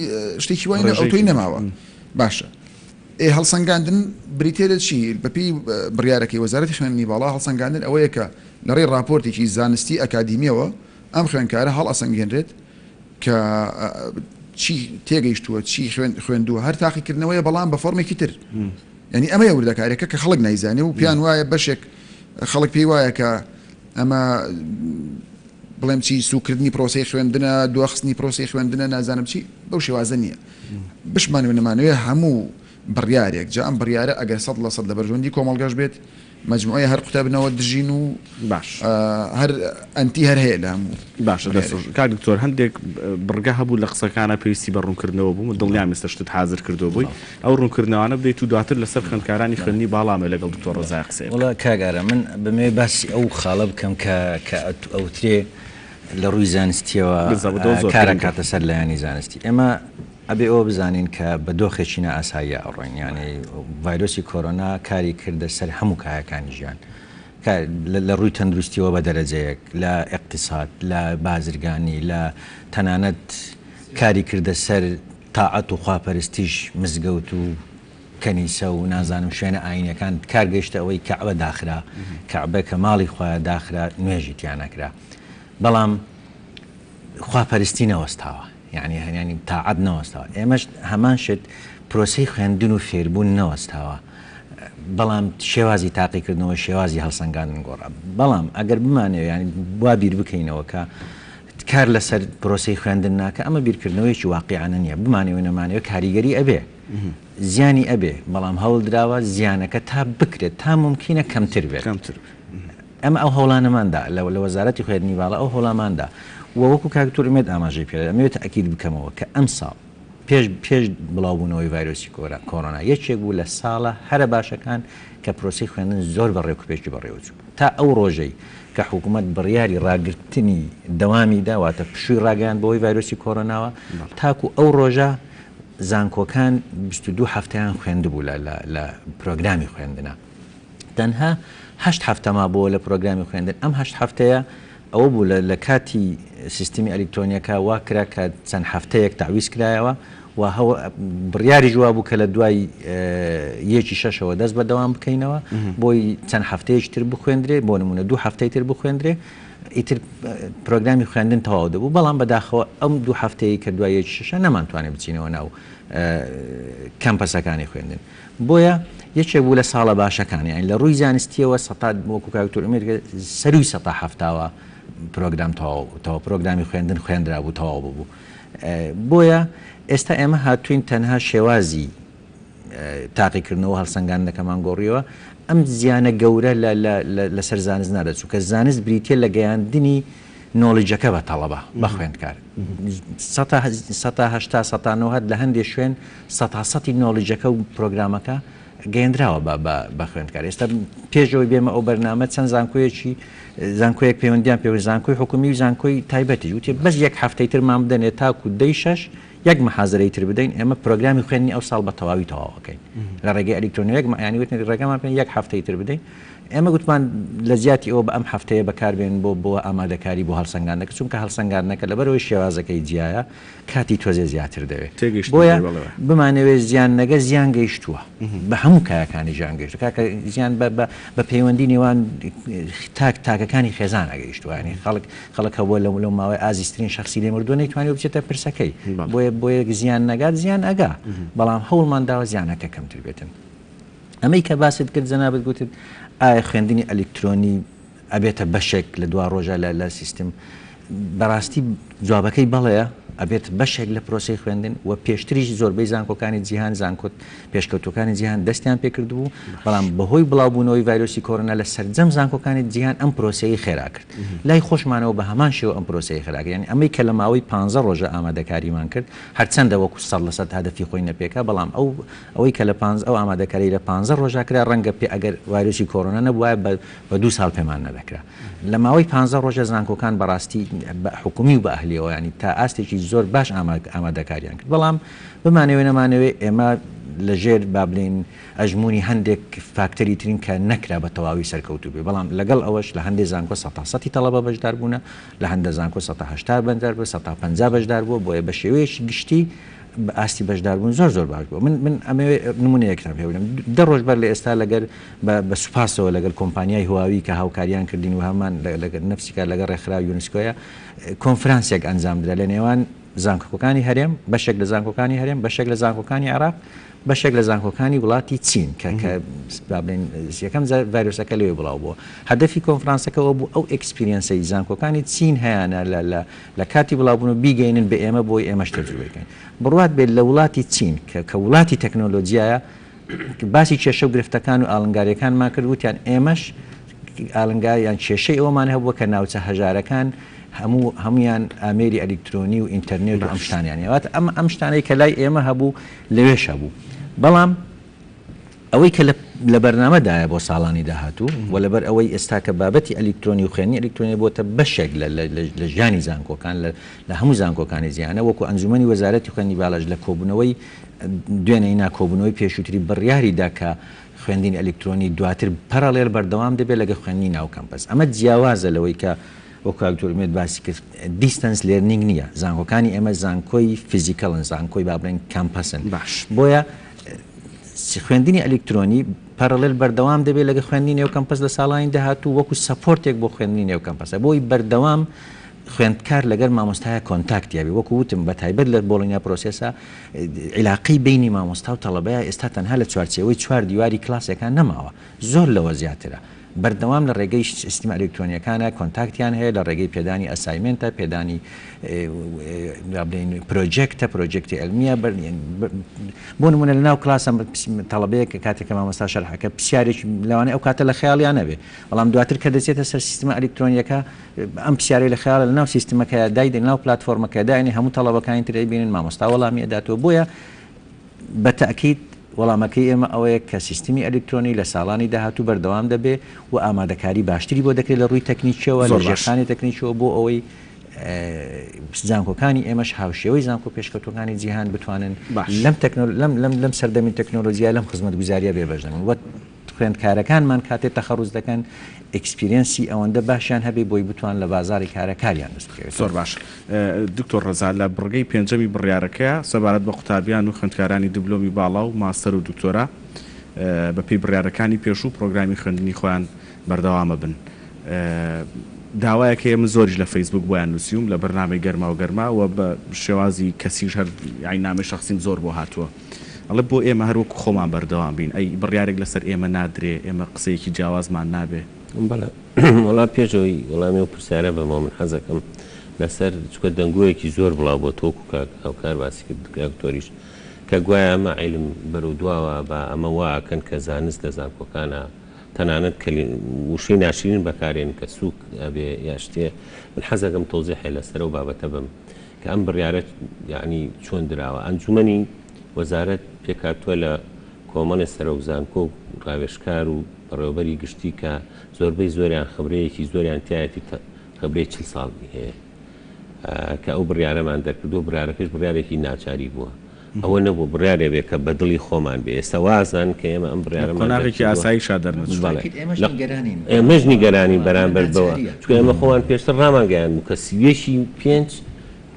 شتێکی وای نە ئەوتۆی نەماوە باشە ئێ هەڵسەنگاندن بریتێ لە چی بەپی بڕیارەکەی وەزارەتی خوێندنی باڵا هەڵسەنگاندن ئەوەیە کە لەڕێی راپۆرتێکی زانستی ئەکادیمیەوە ئەم خوێندکارە هەڵ ئەسەنگێنرێت کە چی تێگەیشتووە چی خوێن خوێندووە هەر تاقیکردنەوەیە بەڵام بە فۆرمێکی تر ینی ئەمە وردەکارێکە کە خەڵک نایزانێ و پیان وایە بەشێک خەڵک پێی وایە کە ئەمە بڵێم چی سوکردنی پرۆسی خوێندنە دواخستنی پرۆسی خوێندنە نازانم چی بەو شێوازە نییە بشمان نەمانوێ هەموو بڕیارێک جا ئەم بڕیارە ئەگەر سەد لە سەد لە بەرژەندی کۆمەلگەش بێت مجموعە هەر قوتابنەوە دژین و باش هەر ئەنتی هەر هەیە لە هەموو باشە دەست کاک دکتۆر هەندێک بڕگە هەبوو لە قسەکانە پێویستی بە ڕوونکردنەوە بوو دڵنیام مستە شتت حاضر کردو بووی ئەو ڕونکردنەوانە بدەیت و دواتر لەسەر خوێندکارانی خوێندنی باڵا مەوێ لەگەڵ دکتۆر ڕەزایە قسەیە بکەم. وەڵا کاک ئارام من بمەوێ باسی ئەو خاڵە بکەم کە کە ئەوترێ لە ڕووی زانستیەوە کار ئەکاتە سەر لایەنی زانستی ئێمە ئەبێ ئەوە بزانین کە بە دۆخێکی نا ئاساییە ئەڕۆین یانی ڤایرۆسی کۆرۆنا کاری کردە سەر هەموو کایەکانی ژیان لە ڕووی تەندروستیەوە بە دەرەجەیەک لە ئێقتیساد لە بازرگانی لە تەنانەت کاری کردە سەر تاعەت و خواپەرستیش مزگەوت و کەنیسە و نازانم شوێنە ئایینیەکان کار گەیشتە ئەوەی کەعبە داخرا، کەعبە کە ماڵی خوایە داخرا نوێژی تیا نەکرا بەڵام خواپەرستی نەوەستاوە یانی هەنیانی تاعەت نەوەستاوە ئێمەش هەمان شت پرۆسەی خوێندن و فێربوون نەوەستاوە بەڵام شێوازی تاقیکردنەوە شێوازی هەڵسەنگاندن گۆڕا بەڵام ئەگەر بمانەوێ یانی وا بیر بکەینەوە کە کار لەسەر پرۆسەی خوێندن ناکا ئەمە بیرکردنەوەیەکی واقیعانە نیە بمانەوێ نەمانەوێ کاریگەری ئەبێ زیانی ئەبێ بەڵام هەوڵدراوە زیانەکە تا بکرێت تا مومکینە کەمتر بێت کەمتر ئەمە ئەو هەوڵانەماندا لە لە وەزارەتی خوێندنی باڵا ئەو هەوڵاماندا و وەکو کاک تورمێد ئاماژەی پێ ئەمەوێت تەئکید بکەمەوە کە ئەمساڵ پێش پێش بڵاوبوونەوەی ڤایرۆسی کۆرا کۆرۆنا یەکێک بوو لە ساڵە هەرە باشەکان کە پرۆسەی خوێندن زۆر بە ڕێکوپێکی بەڕێوە چوو تا ئەو ڕۆژەی کە حکوومەت بڕیاری ڕاگرتنی دەوامی دا واتە پشووی ڕاگەیاند بۆی ڤایرۆسی کۆرۆناوە تاکو ئەو ڕۆژە زانکۆکان 22 هەفتەیان خوێندبوو لە لە پرۆگرامی خوێندنە تەنها هەشت هەفتە مابووە لە پرۆگرامی خوێندن ئەم هەشت هەفتەیە ئەوە بوو لە لەکاتی سیستمی ئەلیکترۆنیەکە وا کرا کە چەند هەفتەیەک تەعویز کرایەوە و بڕیاریش وا بوو کە لە دوای یەکی شەشەوە دەست بە دەوام بکەینەوە بۆی چەند هەفتەیەکی تر بخوێندرێ بۆ نمونە دوو هەفتەی تر بخوێندرێ ئیتر پرۆگرامی خوێندن تەواو دەبوو بەڵام بەداخەوە ئەم دوو هەفتەیە کە دوای یەکی شەشە نەمانتوانێت بچینەوە ناو کەمپەسەکانی خوێندن. بۆیە یەکێک بوو لە ساڵە باشەکان یانی لە ڕووی زانستیەوە سەتا وەکو کاک دکتۆر ئەمیر دەڵێت سەرووی سەتا حەفتاوە پرۆگرام تەواو بووتەوە پرۆگرامی خوێندن خوێندرابوو تەواو ببوو بۆیە ئێستا ئێمە هاتووین تەنها شێوازی تاقیکردنەوە هەڵسەنگاندنەکەمان گۆڕیەوە ئەم زیانە گەورە لەسەر زانست نادەچوو کە زانست بریتە لە گەیاندنی نۆڵیجەکە بە تەڵەبە، بە خوێندکار. سەتا سەتا هەشتا سەتا نەوەد لە هەندێ شوێن سەتا سەتی نۆڵیجەکە و پرۆگرامەکە گەیەندراوە بە بە بە خوێندکار. ئێستا پێش ئەوەی بێمە ئەو بەرنامە چەند زانکۆیەکی زانکۆیەک پەیوەندیان پێ بوو، زانکۆی حکوومی و زانکۆی تایبەتیش وتیان بەس یەک هەفتەی ترمان بدەنێ تاکوو دەی شەش یەک محازەرەی تر بدەین، ئێمە پرۆگرامی خوێندنی ئەوساڵ بە تەواوی تەواو ئەکەین. لە ڕێگەی ئەلیکترۆنییەک یانی وتن ڕێگەمان پێ یەک هەفتەی تر بدەین. ئێمە گوتمان لە جیاتی ئەوە بە ئەم هەفتەیە بەکار بێنن بۆ بۆ ئامادەکاری بۆ هەڵسەنگاندنەکە، چونکە هەڵسەنگاندنەکە لەبەر ئەوەی شێوازەکەی جیایە کاتی تۆزێ زیاتر دەوێ. تێگەیشتم بۆیە بەڵێ بەڵێ. بمانەوێ زیاننەگە زیان گەیشتووە. بە هەموو کایەکانی ژان گەیشتووە. کاکە زیان بە بە بە پەیوەندی نێوان تاک تاکەکانی خێزانا گەیشتووە. یانی خەڵک خەڵک هەبووە لەو لەو ماوەی ئازیزترین شەخسی لێ مردووە نەیتوانیوە بچێتە پرسەکەی. بەڵێ. بۆیە بۆیە زیان نەگات زیان ئەگا. بەڵام هەوڵمان داوە زیانەکە کەمتر بێتن. ئەمەی کە باست کرد جەنابت گوتت ئایا خوێندنی ئەلیکترۆنی ئەبێتە بەشێک لە دواڕۆژە لە لە سیستم بەڕاستی جوابەکەی بەڵێە ئەبێت بەشێک لە پرۆسی خوێندن و پێشتریش زۆربەی زانکۆکانی جیهان زانکۆت پێشکەوتوەکانی جیهان دەستیان پێکردبوو بەڵام بەهۆی بڵاوبوونەوەی ڤایرۆسی کۆرۆنا لە سەرجەم زانکۆکانی جیهان ئەم پرۆسەیە خێرا کرد لای خۆشمانەوە بە هەمان شێوە ئەم پرۆسەیە خراگەیان ئەمەی کە لە ماوەی پ ڕۆژە ئامادەکاریمان کرد هەرچەندە وەکو سەر لەسەر هەدەفی خۆی نەپێکا بەڵام ئەو ئەوەی کە لە پانزە ئەو ئامادەکاریەی لە پانزە ڕۆژا کرا ڕەنگە پێ ئەگەر ڤایرۆسی کۆرۆنا نەبوایە بە بە دوو ساڵ پێمان نەدەکرا لە ماوەی پانزە ڕۆژە زانکۆکان بەڕاستی بە حکومی و بە ئەهلیەوە یانی تا ئاستێکی زۆر باش ئاماد ئامادەکاریان کرد بەڵام بمانەوێ نەمانەوێ ئێمە لە ژێر با بلێین ئەژمونی هەندێک فاکتەری ترین کە نەکرا بە تەواوی سەرکەوتوو بێ بەڵام لەگەڵ ئەوەش لە هەندێ زانکۆ سەتا سەتی تەڵەبە بەشدار بوونە لە هەندە زانکۆ سەتا هەشتا بەندەر بە سەتا پەنجا بەشدار بووە بۆیە بە شێوەیەکی گشتی ئاستی بەشداربوون زۆر زۆر باش بووە من من ئەمەوێ نمونەیەکتان پێ بدەم دە ڕۆژ بەر لە ئێستا لەگەر بە سوپاسەوە لەگەل کۆمپانیای هواوی کە هاوکاریان کردین و هەمان لەگەر نفسی کار لەگەر ڕێکخرا یونسکۆیە کۆنفرانسێک ئەنجام درا لە نێوان زانکۆکانی هەرێم بەشێک لە زانکۆکانی هەرێم بەشێک لە زانکۆکانی عراق بەشێک لە زانکۆکانی وڵاتی چین کە کە بابلین یەکەم ڤایرۆسەکە لەوێ بڵاو بووە هەدەفی کۆنفرانسەکەەوە بوو ئەو ئەکسپیرینسی زانکۆکانی چین هەیەە لە لە لە کاتی بڵاوبوون و بیگەینن بە ئێمە بۆی ئێمەش تەجروبەی کەین بڕوات بێت لە وڵاتی چین کە کە وڵاتی تەکنۆلۆجیایە باسی کێشە و گرفتەکان و ئاڵنگاریەکانمان کرد وتیان ئێمەش ئالنگار یان کێشەی ئەومان هەبووە کە ناوچە هەژارەکان هەموو هەمویان ئامێری ئەلیکترۆنی و ئینتەرنێت و ئەمشتانیان یاوات ئەم ئەمشتانەی کە لای ئێمە هەبوو لەوێش هەبوو بەڵام ئەوەی کە لە بەرنامەدایە بۆ ساڵانی داهاتوو و لەبەر ئەوەی ئێستا کە بابەتی ئەلیکترۆنی و خوێندنی ئەلیکترۆنی بۆتە بەشێک لە ژیانی زانکۆکان لە هەموو زانکۆکانی جیهانە وەکو ئەنجومەنی وەزارەتی خوێندنی بالاش لە کۆبوونەوەی دوێنێی نا کۆبوونەوەی پێشووتری بڕیاری دا کە خوێندنی ئەلیکترۆنی دواتر پەرەڵێل بەردەوام دەبێت لەگەڵ خوێندنی ناو کەمپەس ئەمە جیاوازە لەوەی کە وەکو کاک دکتۆر ئومێد باسی کرد دیستەنس لێرنینگ نییە زانکۆکانی ئێمە زانکۆی فیزیکەڵن زانکۆی با بڵێین کەمپەسن بۆیە خوێندنی ئەلیکترۆنی پەرەڵێل بەردەوام دەبێت لەگە خوێندنی نێو کەمپەس لە ساڵانی داهاتوو وەکو سەپۆرتێک بۆ خوێندنی نێو کەمپەسە بۆی بەردەوام خوێندکار لەگەر مامۆستایە کۆنتاکتیاوی وەکو وتم بە تایبەت لە بۆڵینیا پرۆسسا عیلاقی بینی مامۆستا و تەڵەبەیە ئێستا تەنها لە چوارچەوەی چوار دیواری کلاسێکان نەماوە زۆر لەوە زیاترە بەردەوام لە ڕێگەی سیستمە ئەلیکترۆنییەکانە کۆنتاکتیان هەیە لە ڕێگەی پێدانی ئەسایمێنتە، پێدانی با بڵێین پرۆجێکتە، پرۆجێکتی عیلمییە بۆ نموونە لەناو کڵاسە تەڵەبەیەک کە کاتێک کە مامۆستا شەرح ئەکا پرسیارێکی لەوانەیە ئەو کاتە لە خەیاڵیا نەبێ بەڵام دواتر کە دەچێتە سەر سیستمە ئەلیکترۆنییەکە ئەم پرسیارەی لە خەیاڵە لەناو سیستمەکەیا دایدەنێ لەناو پلاتفۆرمەکەیا داینێ هەموو تەڵەبەکانی تر ئەیبینن مامۆستا وەڵامی ئەداتەوە بۆیە بە تەئکید وەڵامەکەی ئێمە ئەوەیە کە سیستمی ئەلیکترۆنی لە ساڵانی داهاتوو بەردەوام دەبێ و ئامادەکاری باشتری بۆ دەکرێ لە ڕووی تەکنیکییەوە، لە ژێرخانی تەکنیکییەوە بۆ ئەوەی زانکۆکانی ئێمەش هاوشێوەی زانکۆ پێشکەوتووەکانی جیهان بتوانن لەم سەردەمی تەکنۆلۆژیا لەم خزمەتگوزارییە بێبەش دەبن. خوێندکارەکانمان کاتێ تەخەڕوج دەکەن ئێکسپیرێنسی ئەوەندە باشیان هەبێ بۆی بتوان لە بازاری کارا کاریان دەست بکەوێت. زۆر باش دکتۆر ڕەزا لە بڕگەی پێنجەمی بڕیارەکەیە سەبارەت بە قوتابیان و خوێندکارانی دبلۆمی باڵا و ماستەر و دکتۆرا بە پێی بڕیارەکانی پێشوو پڕۆگرامی خوێندنی خۆیان بەردەوامە بن داوایەک هەیە من زۆریش لە فەیسبووک بۆیان نووسیوم لە بەرنامەی گەرماو گەرما و بە شێوازی کەسیش هەر یاین نامەی شەخسیم زۆر بۆ هاتووە. ئەڵێ بۆ ئێمە هەر وەکو خۆمان بەردەوام بین، ئەی بڕیارێک لەسەر ئێمە نادرێ، ئێمە قسەیەکی جیاوازمان نابێ؟ بەڵێ. وەڵا پێش ئەوەی وەڵامی ئەو پرسیارە بەمەوە من حەزەکەم لەسەر چونکە دەنگۆیەکی زۆر بڵاو بۆ تۆ وەکو کاک هاوکار باسی کرد کاک دکتۆریش کە گوایە ئەمە عیلم بەرەو دواوە با ئەمە وا ئەکەن کە زانست لە زانکۆکانە تەنانەت کەلی وشەی ناشرین بەکارێن کە سووک ئەبێ یا شتێ من حەزەکەم تەوزیحێ لەسەر ئەو بابەتە بەم کە ئەم بڕیارە یەعنی چۆن دراوە؟ ئەنجومەنی وەزارەت پێکهاتووە لە کۆمەڵێ سەرۆک زانکۆ و ڕاوێژکار و بەڕێوەبەری گشتی کە زۆربەی زۆریان خبرەیەکی زۆریان تیایەتی تە خبرەی چل ساڵی هەیە کە ئەو بڕیارەمان دەرکردووە، بڕیارەکەش بڕیارێکی ناچاری بووە. ئەوە نەبوو بڕیارێ بێ کە بە دڵی خۆمان بێ، ئێستا وازانن کە ئێمە ئەم بڕیارەمان دەرچووە. لە قۆناغێکی ئاساییشا دەرنەچووین. بەڵێ. ئێمەش نیگەرانین. ئێمەش نیگەرانین بەرامبەر بەوە، چونکە ئێمە خۆمان پێشتر ڕامانگەیاندبوو کە سی و یەک ی پێنج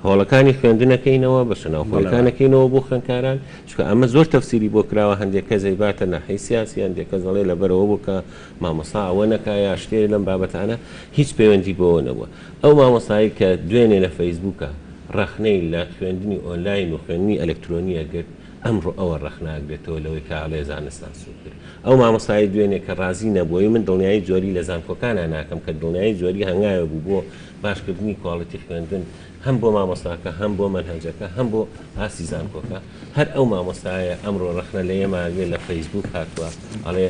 هۆڵەکانی خوێندن ئەکەینەوە، بەشە ناوخۆیەکان ئەکەینەوە بۆ خوێندکاران، چونکە ئەمە زۆر تەفسیری بۆ کراوە، هەندێک کەس ئەیباتە ناحیەی سیاسی، هەندێک کەس ئەڵێ لەبەر ئەوە بوو کە مامۆستا ئەوە نەکا یا شتێ لەم بابەتانە، هیچ پەیوەندی بەوە نەبووە. ئەو مامۆستایەی کە دوێنێ لە فەیسبووکا، ڕەخنەی لە خوێندنی ئۆنلاین و خوێندنی ئەلەکترۆنییە گرت، ئەمڕۆ ئەوە ڕەخناگرێتەوە لەوەی کە ئەڵێ زانستان سووک کرد. ئەو مامۆستایەی دوێنێ کە ڕازی نەبووەی من دڵنیایی جۆری لە زانکۆکانا ناکەم کە دڵنیایی جۆری هەنگاوێ بوو بۆ باشکردنی کواڵیتی خوێندن هەم بۆ مامۆستاکە هەم بۆ مەنهەجەکە هەم بۆ ئاستی زانکۆکە هەر ئەو مامۆستایە ئەمڕۆ ڕەخنە لە ئێمە ئەگرێ لە فەیسبووک هاتووە ئەڵێ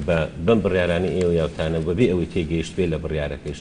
بە بەم بڕیارانەی ئێوە یاوتانە و بەبێ ئەوەی تێگەیشتبێ لە بڕیارەکەیش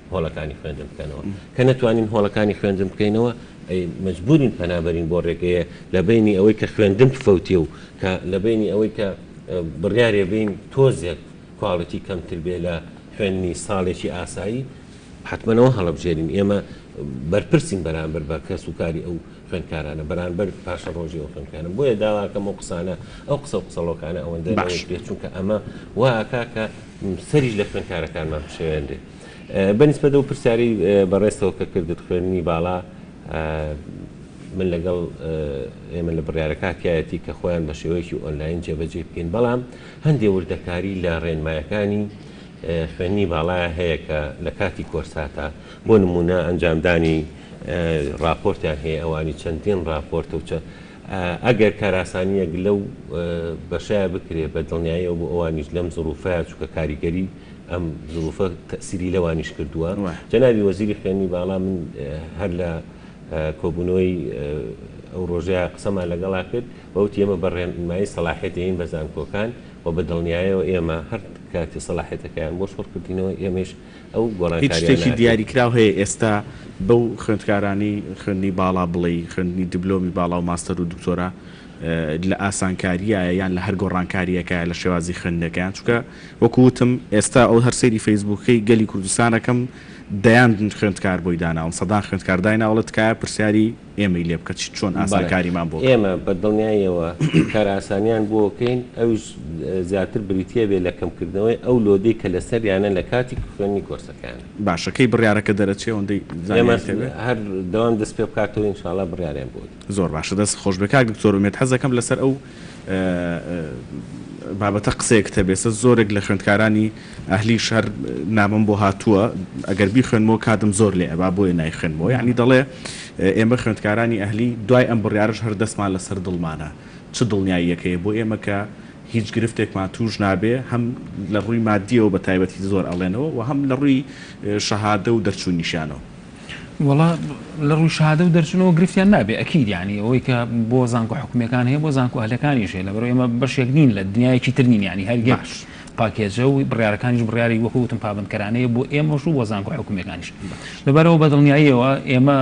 هۆڵەکانی خوێندن بکەنەوە کە نەتوانین هۆڵەکانی خوێندن بکەینەوە ئەی مەجبورین پەنابەرین بۆ ڕێگەیە لە بینی ئەوەی کە خوێندن بفەوتێ و کە لە بینی ئەوەی کە بڕیارێ بین تۆزێک کواڵەتی کەمتر بێ لە خوێندنی ساڵێکی ئاسایی حتممەەوە هەڵبژێرین ئێمە بەرپرسین بەرامبەر بە کەس و کاری ئەو خوێندکارانە بەرانبەر پاشە ڕۆژی ئەو خوێندکانە بۆیە داواکەم و قسانە ئەو قسە و قسەڵۆکانە ئەوەندە باش پێ چونکە ئەمە واکە کە سەریش لە خوێندکارەکانمان بشێوێنرێت. بە نیسبەت لەو پرسیارەی بەڕێزتەوە کە کردت خوێندنی باڵا من لەگەڵ ئێمە لە بڕیارەکە تیایەتی کە خۆیان بە شێوەیەکی ئۆنلاین جێبەجێی بکەین بەڵام هەندێ وردەکاری لە ڕێنمایەکانی خوێنی باڵایە هەیە کە لە کاتی کۆرساتە بۆ نمونە ئەنجامدانی ڕاپۆرتیان هەیە ئەوانی چەندین ڕاپۆرت و چە ئەگەر کاراسانییەک لەو بەشەیا بکرێ بە دڵنیاییەوە بۆ ئەوانیش لەم زروفەیا، چونکە کاریگەری ئەم زروفە تەئسیری لەوانیش کردووە. جەنابی وەزیری خوێندنی باڵا من هەر لە کۆبوونەوەی ئەو رۆژەیا قسەمان لەگەڵا کرد و وتی ئێمە بە رێنمایی سەڵاحیەتەیین بە زانکۆکان و بە دڵنیاییەوە ئێمە هەر کاتێ سەڵاحیەتەکەیان بۆ شۆڕ کردینەوە ئێمەیش ئەو گۆڕانکاریانە هەتیوە. هیچ شتێکی دیاریکراو هەیە ئێستا بەو خوێندکارانەی خوێندنی باڵا بڵێی خوێندنی دبلۆمی باڵا و ماستەر و دکتۆرا لە ئاسانکاریایە یان لە هەر گۆڕانکاریەکایە لە شێوازی خوێندنەکەیان چونکە وەکو وتم ئێستا ئەو هەر سەیری فەیسبووکەی گەلی کوردستان ئەکەم دەیان خوێندکار بۆی داناون سەدان خوێندکار دایناوە ئەڵێ تکایە پرسیاری ئێمەی لێ بکە چ چۆن بەڵێ ئاسانکاریمان بۆ بکە. ئێمە بە دڵنیاییەوە کارئاسانیان بۆ بکەین ئەویش زیاتر بریتی ئەبێ لە کەمکردنەوەی ئەو لۆدەی کە لەسەریانە لە کاتی خوێندنی کۆرسەکەیان. باشە کەی بڕیارەکە دەرەچێ ئەوەندەی ئێمە زانیاریت هەبێ؟ هەر دەوام دەست پێ بکاتەوە ئینشاڵا بڕیاریان بۆ ئەدەین. زۆر باشە دەست خۆش بێ کاک دکتۆر ئومێد حەز دەکەم لەسەر ئەو. بابەتە قسەیەکت هەبێ سە زۆرێک لە خوێندکارانی ئەهلیش هەر نامەم بۆ هاتووە ئەگەر بیخوێنمەوە کاتم زۆر لێ ئەبا بۆیە نایخوێنمەوە یعنی دەڵێ ئێمە خوێندکارانی ئەهلی دوای ئەم بڕیارەش هەر دەستمان لەسەر دڵمانە چ دڵنیاییەکەیە بۆ ئێمە کە هیچ گرفتێکمان توش نابێ هەم لە ڕووی مادیەوە بە تایبەتی زۆر ئەڵێنەوە و هەم لە ڕووی شەهادە و دەرچوونیشانەوە وەڵا لە ڕووی شەهادە و دەرچوونەوە گرفتیان نابێ ئەکید یعنی ئەوەی کە بۆ زانکۆ حکومیەکان هەیە بۆ زانکۆ ئەهلەکانیش هەیە لەبەرو ئێمە بەشێک نین لە دنیایەکی تر نین یعنی هەر یەک پاکێجە و بڕیارەکانیش بڕیاری وەکو وتم پابەندکەرانەیە بۆ ئێمەش و بۆ زانکۆ حکومیەکانیش لەبەرەوە بەدڵنیاییەوە ئێمە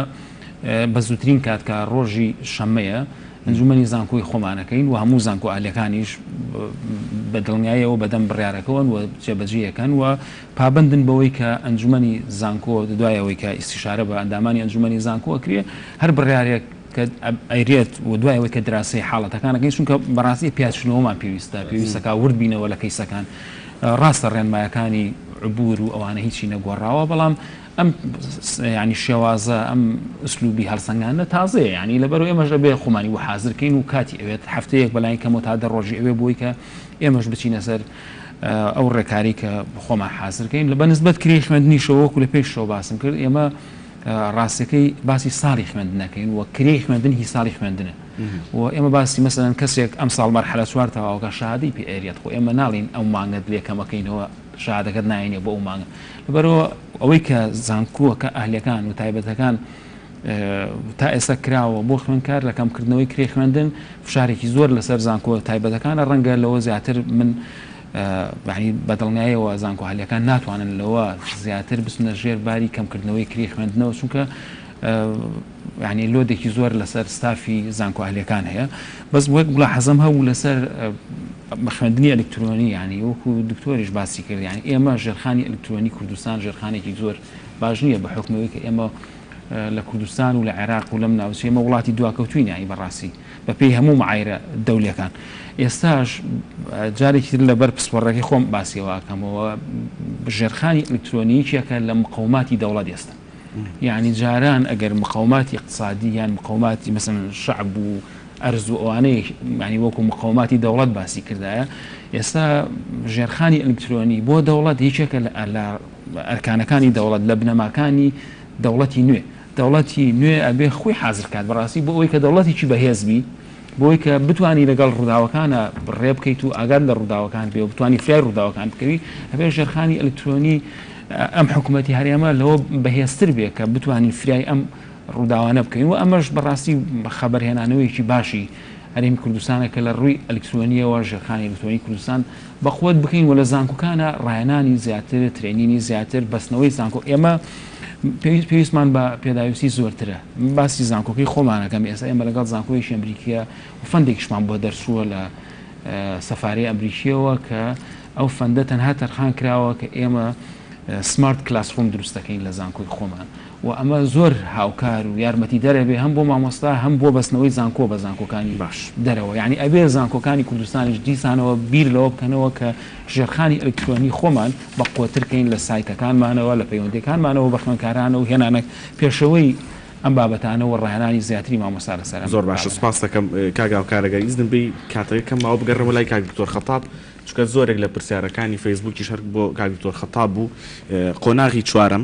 بە زووترین کات کە ڕۆژی شەمەیە ئەنجومەنی زانکۆی خۆمانەکەین و هەموو زانکۆ ئالەکانیش بە دڵنیایەوە بەدەم بڕارەکەون و جێبەجیەکەن و پابەندن بەوەی کە ئەنجومەنی زانکۆ دوای ئەوەی کە ئیستیشارە بە ئەندامانی ئەنجومەنی زانکۆ ئەکرێ هەر بڕیارێک کە ئەیرێت و دوای ئەوەی کە دراسەی حاڵەتەکان ئەکەین چونکە بەڕاستی پیادچوونەوەمان پێویستە پێویستە کا ورد بینەوە لە کەیسەکان ڕاستە ڕێنمایەکانی عبور و ئەوانە هیچی نەگۆڕاوە بەڵام ئەم ینی شێوازە ئەم ئسلوبی هەڵسەنگانە تازەیە ینی لەبەر ئێمەش ئەبێ خۆمانی بۆ حاضرکەین و کاتی ئەوێت هەفتەیەک بەلاین کەمەوە تا دە ڕۆژی ئەوێ بۆی کە ئێمەش بچینە سەر ئەو ڕێکارەی کە خۆمان حازر کەین بە نسبەت کرێی خوێندنیشەوە وەکو لە پێشەوە باسم کرد ئێمە ڕاستەکەی باسی ساڵی خوێندنەکەین و کرێی خوێندن هی ساڵی خوێندنە و ئێمە باسی مەسەن کەسێک ئەم ساڵ مەرحەلە چوار تەواوکە شادی پێ ئەریێت خۆ ئێمە ناڵین ئەو مانگەت لێکەمەکەینەوە شادەکەت ناینێ بۆ ئەو مانگە لەبەرەوە ئەوەی کە زانکووەکە ئەهلەکان و تایبەتەکان تا ئێستا کراوە بۆ خوێندکار لە کەمکردنەوەی کرێی خوێندن فشارێکی زۆر لەسەر زانکۆ تایبەتەکانە ڕەنگە لەوە زیاتر من بەدڵنیایەوە زانکۆ هەلەکان ناتوانن لەوە زیاتر بچنە ژێر باری کەمکردنەوەی کری خوێندنەوە چونکە ینی لۆدێکی زۆر لەسەر ستافی زانکۆ هەلەکان هەیە بەس وەک بڵا حەزم هەبوو لەسەر بەخوێندنی ئەلکترۆنی ینی وەکو دکتۆریش باسی کردیان ئێمە ژێرخانی ئەلکترۆنی کوردستان ژێرخانێکی زۆر باش نییە بە حکمەوەی کە ئێمە لە کوردستان و لە عێراق و لەم ناوچەیە ئێمە وڵاتی دواکەوتووین یانی بەڕاستی بەپێی هەموو معایرە دەولەکان ئێستاش جارێکی تر لەبەر پسپۆڕەکەی خۆم باسیەوەکەمەوە ژێرخانی ئەلکترۆنیکیەکە لە مقاوماتی دەوڵەت ئێستا یعنی جاران ئەگەر مقاوماتی اقتصادی یان مقاوماتی مەسن شعب و ئەرز و ئەوانەی معنی وەکو مقاوماتی دەوڵەت باسی کردایە ئێستا ژێرخانی ئەلکترۆنی بۆ دەوڵەت یەکێکە لە ئەرکانەکانی دەوڵەت لە بنەماکانی دەوڵەتی نوێ دەوڵەتی نوێ ئەبێ خۆی حازر کات بەڕاستی بۆ ئەوەی کە دەوڵەتێکی بەهێز بی بۆ ئەوەی کە بتانی لەگەڵ ڕووداوەکانە ڕێ بکەیت و ئاگات لە ڕووداوەکان بێ و بتانی فرای ڕووداوەکان بکەوی ئەبێ ژێرخانی ئەلکترۆنی ئەم حکوومەتی هەرێمە لەوە بەهێزتر بێ کە بتانی فرای ئەم ڕووداوانە بکەین و ئەمەش بەڕاستی خەبەرهێنانەوەیەکی باشی هەرێمی کوردستانە کە لە ڕووی ئەلکترۆنییەوە ژێرخانی ئەلکترۆنی کوردستان بەقوەت بکەین و لە زانکۆکانا ڕاهێنانی زیاتر، ترێنینی زیاتر، بەستنەوەی زانکۆ، ئێمە پێویست پێویستمان بە پێداویستی زۆرترە، من باسی زانکۆکەی خۆمان ئەکەم ئێستا ئێمە لەگەڵ زانکۆیەکی ئەمریکییە و فەندێکیشمان بۆ دەرچووە لە سەفارەی ئەمریکییەوە کە ئەو فەندە تەنها تەرخان کراوە کە ئێمە سمارت کلاسڕووم دروست دەکەین لە زانکۆی خۆمان و ئەمە زۆر هاوکار و یارمەتیدەر ئەبێ هەم بۆ مامۆستا هەم بۆ بەستنەوەی زانکۆ بە زانکۆکانی باش. دەرەوە یانی ئەبێ زانکۆکانی کوردستانیش دیسانەوە بیر لەوە بکەنەوە کە ژێرخانی ئەلکترۆنی خۆمان بە قوەتر کەین لە سایتەکانمانەوە لە پەیوەندیەکانمانەوە بە خوێنکارانە و هێنانە پێشەوەی ئەم بابەتانە و ڕاهێنانی زیاتری مامۆستا لەسەر ئەم زۆر باشە بابەتە. سوپاست ئەکەم کاک هاوکار ئەگەر ئیزنم بی کاتەکە کەم ماوە بگەڕێمەوە لای کاک دکتۆر خەتاب چونکە زۆرێک لە پرسیارەکانی فەیسبوکیش هەر بۆ کاک دکتۆر خەتاب بوو قۆناغی چوارەم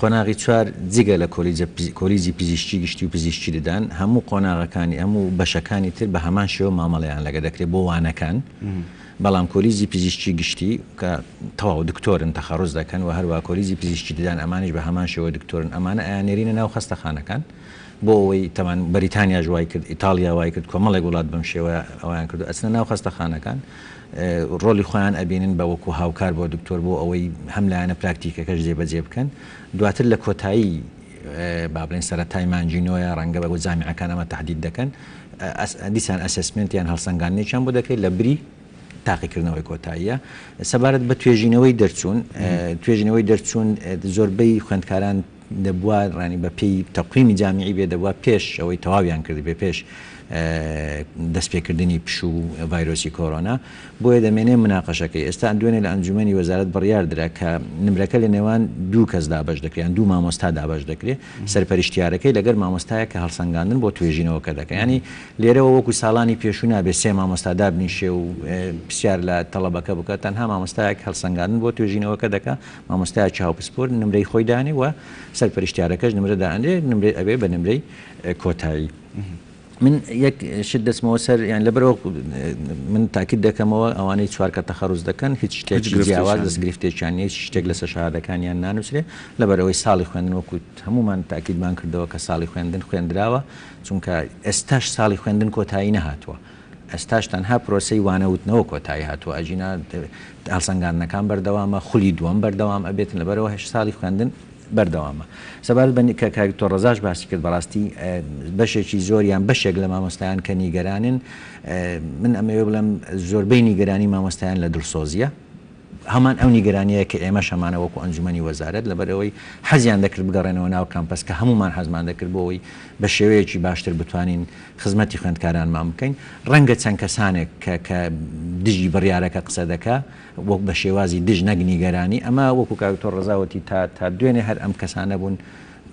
قۆناغی چوار جگە لە کۆلیجی پزیشکی گشتی و پزیشکی ددان هەموو قۆناغەکانی هەموو بەشەکانی تر بە هەمان شێوە مامەڵەیان لەگە دەکرێت بۆ وانەکان بەڵام کۆلیجی پزیشکی گشتی کە تەواو دکتۆرن تەخەڕوز دەکەن و هەروە کۆلیجی پزیشکی ددان ئەمانیش بە هەمان شێوە دکتۆرن ئەمانە ئەیان نێرینە ناو خەستەخانەکان بۆ ئەوەی تەمان بەریتانیاش وای کرد ئیتاڵیا وای کرد کۆمەڵێک وڵات بەم شێوەیە ئەویان کردو ئەچنە ناو خەستەخانەکان ڕۆلی خۆیان ئەبینن بە وەکو هاوکار بۆ دکتۆر بۆ ئەوەی هەم لایەنە پراکتیکەکەش جێ بەجێ بکەن دواتر لە کۆتایی با بڵێن سەرەتای مانگی نۆیە ڕەنگە بە بۆ جامیعەکان ئەمە تەحدید دەکەن دیسان ئەسسمێنت یان هەڵسەنگاندنێکیان بۆ دەکرێت لە بری تاقیکردنەوەی کۆتاییە سەبارەت بە توێژینەوەی دەرچوون توێژینەوەی دەرچوون زۆربەی خوێندکاران دەبوا ڕانی بە پێی تەقویمی جامیعی بێ دەبوا پێش ئەوەی تەواویان کردبێ پێش دەست پێ کردنی پشو و ڤایرۆسی کۆرۆنا بۆیە دەمێنێ مناقەشەکەی ئێستا دوێنێ لە ئەنجومەنی وەزارەت بڕیار درا کە نمرەکە لە نێوان دوو کەس دابەش دەکریان دوو مامۆستا دابەش دەکرێ سەرپەرشتیارەکەی لەگەر مامۆستایە کە هەڵسەنگاندن بۆ توێژینەوەکە دەکە ینی لێرەوە وەکو ساڵانی پێشوو نابێ سێ مامۆستا دابنیشێ و پرسیار لە تەڵەبەکە بکە تەنها مامۆستایەک هەڵسەنگاندن بۆ توێژینەوەکە دەکە مامۆستایەکی هاوپسپۆر نمرەی خۆی دانێ و سەرپەرشتیارەکەش نمرە دانێ نمرەی ئەبێ بە نمرەی کۆتایی من یەک شت دەستمەوە سەر یان لەبەرەوە من تاکیت دەکەمەوە ئەوانەی چوار کە تەخەڕوز دەکەن هیچ شتێکی جیاواز دەست گرفتێکیان هیچ شتێک لەسەر شادەکانیان نانووسێ لەبەرەوەی ساڵی خوێندن وەکووت هەمومان تاکیدمان کردەوە کە ساڵی خوێندن خوێندراوە چونکە ئێستاش ساڵی خوێندن کۆتایی نەهاتووە ئێستاش تەنها پرۆسەی وانە وتنەوە کۆتایی هاتووە، ئەگینا هەڵسەنگاندنەکان بەردەوامە، خولی دووەم بەردەوام ئەبێت، لەبەرئەوە هێشت ساڵی خوێندن بەردەوامە. سەبارەت بە کە کاک دکتۆر ڕەزاش باسی کرد بەڕاستی بەشێکی زۆر یان بەشێک لە مامۆستایان کە نیگەرانن من ئەمەوێ بڵێم زۆربەی نیگەرانی مامۆستایان لە دڵسۆزییە، هەمان ئەو نیگەرانییە کە ئێمەش هەمانە وەکو ئەنجومەنی وەزارەت، لەبەرئەوەی حەزیان دەکرد بگەڕێنەوە ناو کامپەس کە هەموومان حەزمان دەکرد بۆ ئەوەی بە شێوەیەکی باشتر بتوانین خزمەتی خوێندکارانمان بکەین، ڕەنگە چەند کەسانێک کە کە دژی بڕیارەکە قسە دەکا وەک بە شێوازی دژ نەک نیگەرانی، ئەمە وەکو کاک دکتۆر ڕەزا وتی تا تا دوێنێ هەر ئەم کەسانە بوون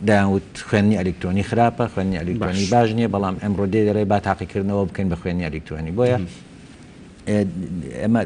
دەیان وت خوێندنی ئەلیکترۆنی خراپە، خوێندنی ئەلیکترۆنی باش نییە، بەڵام ئەمڕۆ دێ دەڵێ با تاقیکردنەوە بکەین بە خوێندنی ئەلیکترۆنی، بۆیە ئێمە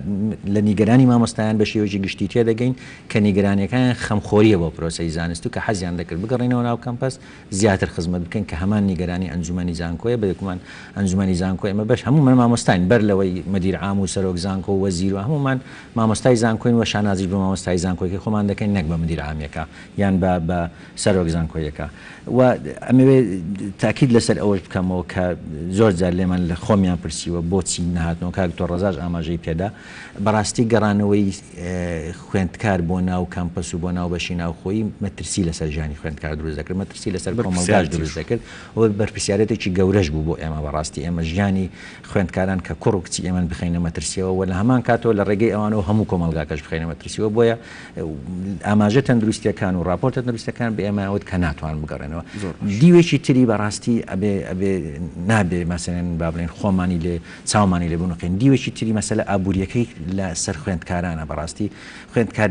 لە نیگەرانی مامۆستایان بە شێوەیەکی گشتی تێدەگەین کە نیگەرانیەکانیان خەمخۆریە بۆ پرۆسەی زانست و کە حەزیان دەکرد بگەڕێنەوە ناو کەمپەس زیاتر خزمەت بکەین کە هەمان نیگەرانی ئەنجومەنی زانکۆیە بەێکمان ئەنجومەنی زانکۆ ئێمە بەش هەموومان مامۆستاین بەر لەوەی مدیر عام و سەرۆک زانکۆ و وەزیر و هەموومان مامۆستای زانکۆین و شانازیش بە مامۆستای زانکۆیەکەی خۆمان دەکەین نەک بە مدیر عامیەکە یان بە سەرۆک زانکۆیەکە و ئەمەوێ تاکید لەسەر ئەوەش بکەمەوە کە زۆر جار لێمان لە خۆمیان پرسیوە بۆچی نەهاتنەوە کاک دکتۆر ڕەزاش ئاماژەی پێدا بەڕاستی گەڕانەوەی خوێندکار بۆ ناو کامپەس و بۆ ناو بەشی ناوخۆی مەترسی لەسەر ژیانی خوێندکار دروست دەکرد مەترسی لەسەر کۆمەڵگاش دروست دەکرد و بەرپرسیارەتێکی گەورەش بوو بۆ ئێمە بەڕاستی ئێمە ژیانی خوێندکاران کە کوڕ و کچی ئێمەن بخەینە مەترسیەوە و لە هەمان کاتەوە لە ڕێگەی ئەوانەوە هەموو کۆمەڵگاکەش بخەینە مەترسیەوە بۆیە ئاماژە تەندروستیەکان و ڕاپۆرت تەندروستەکان بە ئێمە وت کە ناتوان بگەڕێنەوە دیوێکی تری بەڕاستی ئەبێ ئەبێ نابێ مەسەێن با بڵێن خۆمانی لێ چاومانی لێ بنوقین دیوێکی تری مەسەلە ئابوووریەکەی لە سەر خوێندکارانە بەڕاستی خوێندکار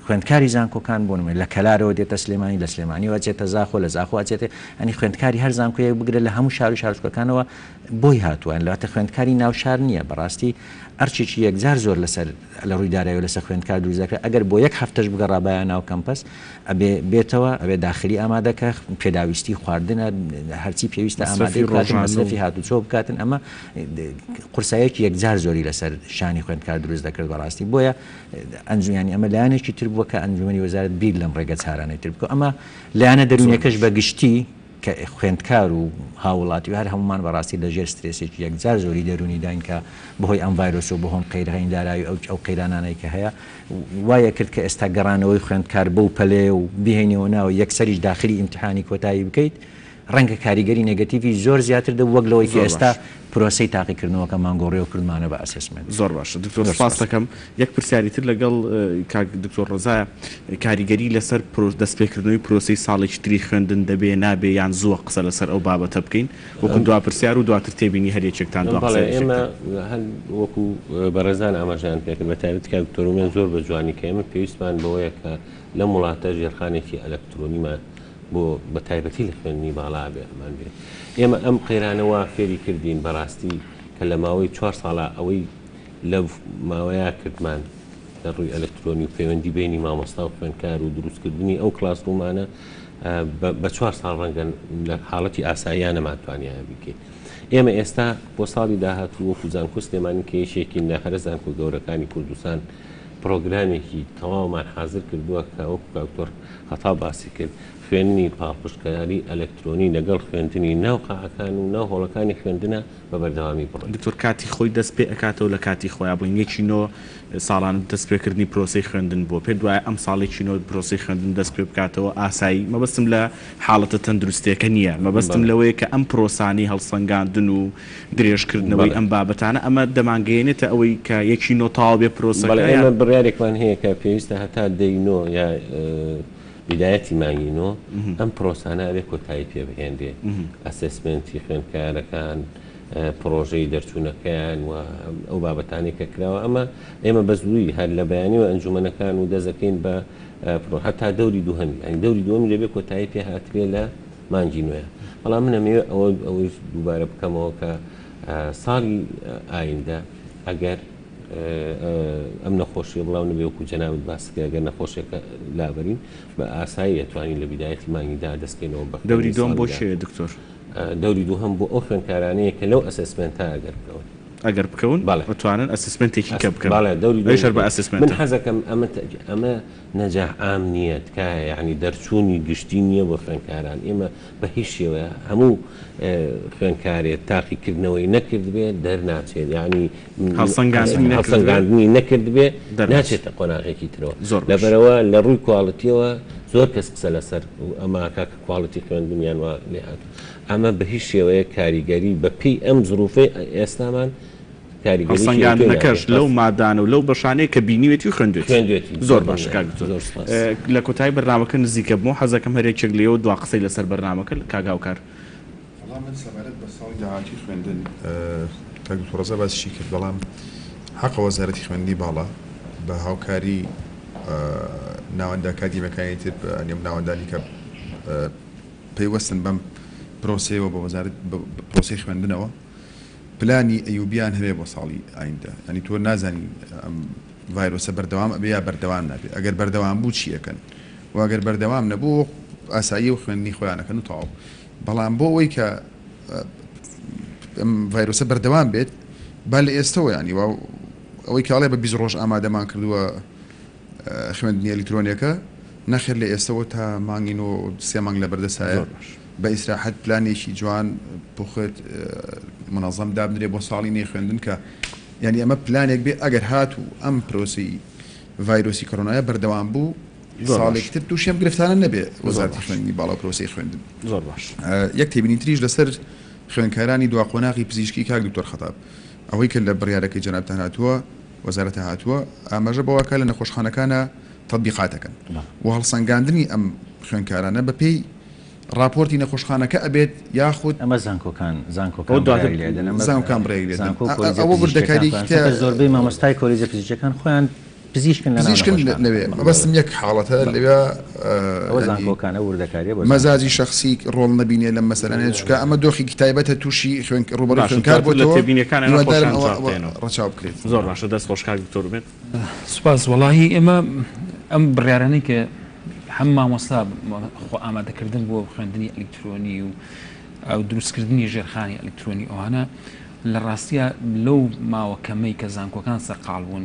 خوێندکاری زانکۆکان بۆ نمێ لە کەلارەوە دێتە سلێمانی لە سلێمانیەوە چێتە زاخۆ لە زاخۆ ئەچێتێ ئەنی خوێندکاری هەر زانکۆیەک بگرە لە هەموو شار و شارچکەکانەوە بۆی هاتووە لاتە خوێندکاری ناوشار نییە بەڕاستی ئەرچێکی یەکجار زۆر لەسەر لە ڕووی دارایەوە لەسەر خوێندکار دروست دەکرا، ئەگەر بۆ یەک هەفتەش بگەڕابایە ناو کەمپەس ئەبێ بێتەوە، ئەبێ داخلی ئامادە کا، پێداویستی خواردنە، هەرچی پێویستە ئامادەی بکاتن، مەسرەفی هاتوچۆ بکاتن، ئەمە قورساییەکی یەکجار زۆری لەسەر شانی خوێندکار دروست دەکرد بەڕاستی، بۆیە ئەنجومیانی ئەمە لایەنێکی تر بووە کە ئەنجومەنی وەزارەت بیر لەم ڕێگەچارانەی تر بکا، ئەمە لایەنە دەروونیەکەش بە گشتی کە خوێندکار و هاووڵاتی و هەر هەموومان بەڕاستی لە ژێر سترێسێکی یەکجار زۆری دەروونیداین کە بەهۆی ئەم ڤایرۆسە و بەهۆن قەیرهین دارایی و ئەو قەیرانانەی کە هەیە وای کرد کە ئێستا گەڕانەوەی خوێندکار بەو پەلەیە و بیهێینەوە ناوە یەکسەریش داخلی ئیمتیحانی کۆتایی بکەیت ڕەنگە کاریگەری نێگەتیڤی زۆر زیاتر دەبوو وەک لەوەی کە ئێستا پرۆسەی تاقیکردنەوەکە مان گۆڕیەوە کردمانە بە ئەسسمێنت. زۆر باشە دکتۆر سپاست دەکەم. یەک پرسیاری تر لەگەڵ کاک دکتۆر ڕەزایە، کاریگەری لەسەر پرۆ دەست پێکردنەوەی پرۆسەی ساڵێکی تری خوێندن دەبێ نابێ یان زووە قسە لەسەر ئەو بابەتە بکەین؟ وەکو دوا پرسیار و دواتر تێبینی هەر یەکێکتان دوا بەڵێ پرسیاریش ئێمە یەکتان. هەر وەکو بەڕێزان ئاماژەیان پێکرد بە تایبەتی کاک دکتۆر ئومێد زۆر بە جوانی کە ئێمە پێویستمان بەوەیە کە لەم وڵاتە ژێرخانێکی ئەلەکترۆنیمان بۆ بە تایبەتی لە خوێندنی باڵا ئەبێ ئەمان بێ ئێمە ئەم قەیرانە وا فێری کردین بەڕاستی کە لە ماوەی چوار ساڵە ئەوەی لەو ماوەیە کردمان لە ڕووی ئەلکترۆنی و پەیوەندی بەینی مامۆستا و خوێندکار و دروست کردنی ئەو کڵاس ڕوومانە بە چوار ساڵ ڕەنگە لە حاڵەتی ئاساییە نەمانتوانیایە بیکەین ئێمە ئێستا بۆ ساڵی داهاتوو وەکو زانکۆ سلێمانی کە یەکێکین لە هەرە زانکۆ گەورەکانی کوردستان پڕۆگرامێکی تەواومان حازر کردووە کە وەکو کاک تۆر خەتاب باسی کرد خوێندنی پاڵپشتکاری ئەلەکترۆنی لەگەڵ خوێندنی ناو قاعەکان و ناو هۆڵەکانی خوێندنە بە بەردەوامی بڕۆین. دکتۆر کاتی خۆی دەست پێ ئەکاتەوە لە کاتی خۆیا بووین یەکی نۆ ساڵان دەست پێ کردنی پرۆسەی خوێندن بووە پێت وایە ئەم ساڵ یەکی نۆ پرۆسەی خوێندن دەست پێ بکاتەوە ئاسایی مەبەستم لە حاڵەتە تەندروستیەکە نیە مەبەستم لەوەیە کە ئەم پرۆسانەی هەڵسەنگاندن و درێژکردنەوەی ئەم بابەتانە، ئەمە دەمانگەیەنێتە ئەوەی کە یەکی نۆ تەواو بێت پرۆسەکە، بەڵێ ئێمە بڕیارێکمان هەیە کە پێویستە هەتا دەی نۆ یا بیدایەتی مانگی نۆ ئەم پرۆسانە ئەبێ کۆتایی پێ بهێنرێ، ئەسێسمێنتی خوێندکارەکان، پرۆژەی دەرچوونەکەیان و ئەو بابەتانەی کە کراوە، ئەمە ئێمە بە زوویی هەر لە بەیانیوە ئەنجوومەنەکان و دەست دەکەین بە پرۆ هەتا دەوری دووهەمی، یانی دەوری دووەمی دەبێ کۆتایی پێ هاترێ لە. مانگی نوێ، بەڵام من ئەمەوێ ئەوە ئەوەیش دووبارە بکەمەوە کە ساڵی ئایندە ئەگەر ئەم نەخۆشیە بڵاو نەبێ وەکو جەنابت باس کرد ئەگەر نەخۆشیەکە لابەرین بە ئاسایی ئەتوانین لە بیدایەتی مانگیدا دەستکەینەوە بە دەوری دوم بۆ شێ دکتۆر دەوری دووهم بۆ ئەو خوێنکارانەیە کە لەو ئەسسمنتە ئەگەر بکەون ئەگەر بکەون بەڵێ بتوانن ئەسسمنتێکی کە بکەن بەڵێ دەوری دوم بە ئەسسمنت من حەزەکەم ئەمە ئەمە نەجاح عام نییە تکایە یەعنی دەرچوونی گشتی نییە بۆ خوێندکاران ئێمە بە هیچ شێوەیە هەموو خوێندکارێ تاقی کردنەوەی نەکردبێ دەرناچێت یەعنی هەڵسەنگاندنی نەکردبێ ناچێتە قۆناغێکی ترەوە لەبەرەوە لە ڕووی کواڵتیەوە زۆر کەس قسە لەسەر ئەما کاکە کواڵتی خوێندنیان وا لێهاتوو ئەمە بە هیچ شێوەیە کاریگەری بە پێی ئەم زروفەی ئێستامان هەڵسەنگاندنەکەش لەو مادانە و لەو بەشانەیە کە بینیوێتی و خوێندوێتی. زۆر باشە کاک دکتۆر. لە کۆتایی بەرنامەکە نزیکە بمەوە، حەز دەکەم هەر یەکێک لێوە دوا قسەی لەسەر بەرنامەکە کاک هاوکار. وەڵا من سەبارەت بە ساڵی داهاتووی خوێندن، کاک دکتۆر ڕەزا باسیشی کرد، بەڵام حەقە وەزارەتی خوێندنی باڵا بە هاوکاری ناوەندە ئەکادیمیەکانی تر بەنێو ناوەندە لیکە پەیوەستن بەم پرۆسەیەوە بە وەزارەت بە پرۆسەی خوێندنەوە. پلانی ئەیوبیان هەبێ بۆ ساڵی ئایندە یانی تۆ نازانی ئەم ڤایرۆسە بەردەوام ئەبێ یا بەردەوام نابێ ئەگەر بەردەوام بوو چی ئەکەن و ئەگەر بەردەوام نەبوو ئاساییە و خوێندنی خۆیان ئەکەن و تەواو بەڵام بۆ ئەوەی کە ئەم ڤایرۆسە بەردەوام بێت با لە ئێستەوە یانی وا ئەوەی کاڵێ بە بیست ڕۆژ ئامادەمان کردووە خوێندنی ئەلیکترۆنیەکە نەخێر لە ئێستەوە تا مانگی نۆ سێ مانگ لەبەردەستایە بە ئیسراحەت پلانێکی جوان بخوێت منەزەم دابنرێ بۆ ساڵی نوێی خوێندن کە یعنی ئەمە پلانێک بێ ئەگەر هات و ئەم پرۆسی ڤایرۆسی کۆرۆنایە بەردەوام بوو ساڵێکتر تووشێم گرفتانە نەبێ وەزارتی خوێندنی باڵا پرۆسی خوێندن زۆر باش یەک تێبینی تریش لەسەر خوێنکارانی دوا قۆناغی پزیشکی کاک دکتۆر خەتاب ئەوەی کە لە بڕیارەکەی جەنابتان هاتووە وەزارەتە هاتووە ئاماژە بەوەکا لە نەخۆشخانەکانا تەتبیقاتەکەن و هەڵسەنگاندنی ئەم خوێندکارانە بە پێی ڕاپۆرتی نەخۆشخانەکە ئەبێت یاخود. ئەمە زانکۆکان زانکۆکان بڕیاری لێ دەن ئەمە زانکۆکان بڕیاری لێ دەن ئەوە وردەکاریەکی ترە چونکە زۆربەی مامۆستای کۆلیجە پزیشکیەکان خۆیان پزیشکن لە ناو نەخۆشخانە پزیشکن لەوێ مەبەستم یەک حاڵەتە لەوێ ئەوە زانکۆکانە وردەکاریە بۆ زانکۆکان. مەزاجی شەخسی ڕۆڵ نەبینێ لەم مەسەلانە چونکە ئەمە دۆخێکی تایبەتە توشی خوێن ڕوبەڕوی خوێنکار بۆتەوە هیوادارم ئەوە ڕەچاو بکرێت. زۆر باشە دەست خۆش کاک دکتۆر ئومێد. سوپاس وەڵاهی ئێمە ئەم بڕیارانەی کە هەم مامۆستا خۆ ئامادەکردن بۆ خوێندنی ئەلیکترۆنی و ئەو دروستکردنی ژێرخانی ئەلیکترۆنی ئەوانە لە ڕاستیا لەو ماوە کەمەی کە زانکۆکان سەرقاڵ بوون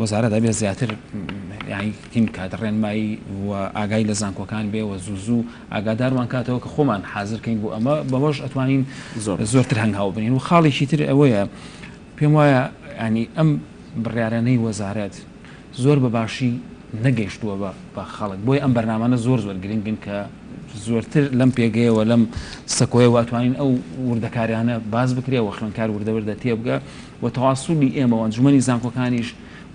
وەزارەت ئەبێ زیاتر یانی تیم بکات ڕێنمایی و ئاگای لە زانکۆکان بێ و زوو زوو ئاگاداروان کاتەوە کە خۆمان حازر کەین بۆ ئەمە بەوەش ئەتوانین زۆرتر هەنگاو بنێین و خاڵێکی تر ئەوەیە پێم وایە یانی ئەم بڕیارانەی وەزارەت زۆر بە باشی نەگەیشتووە بە بە خەڵک بۆیە ئەم بەرنامانە زۆر زۆر گرنگن کە زۆرتر لەم پێگەیەوە لەم سەکۆیەوە ئەتوانین ئەو وردەکاریانە باس بکرێ و خوێندکار وردە وردە تێبگا و تەواسولی ئێمە و ئەنجومەنی زانکۆکانیش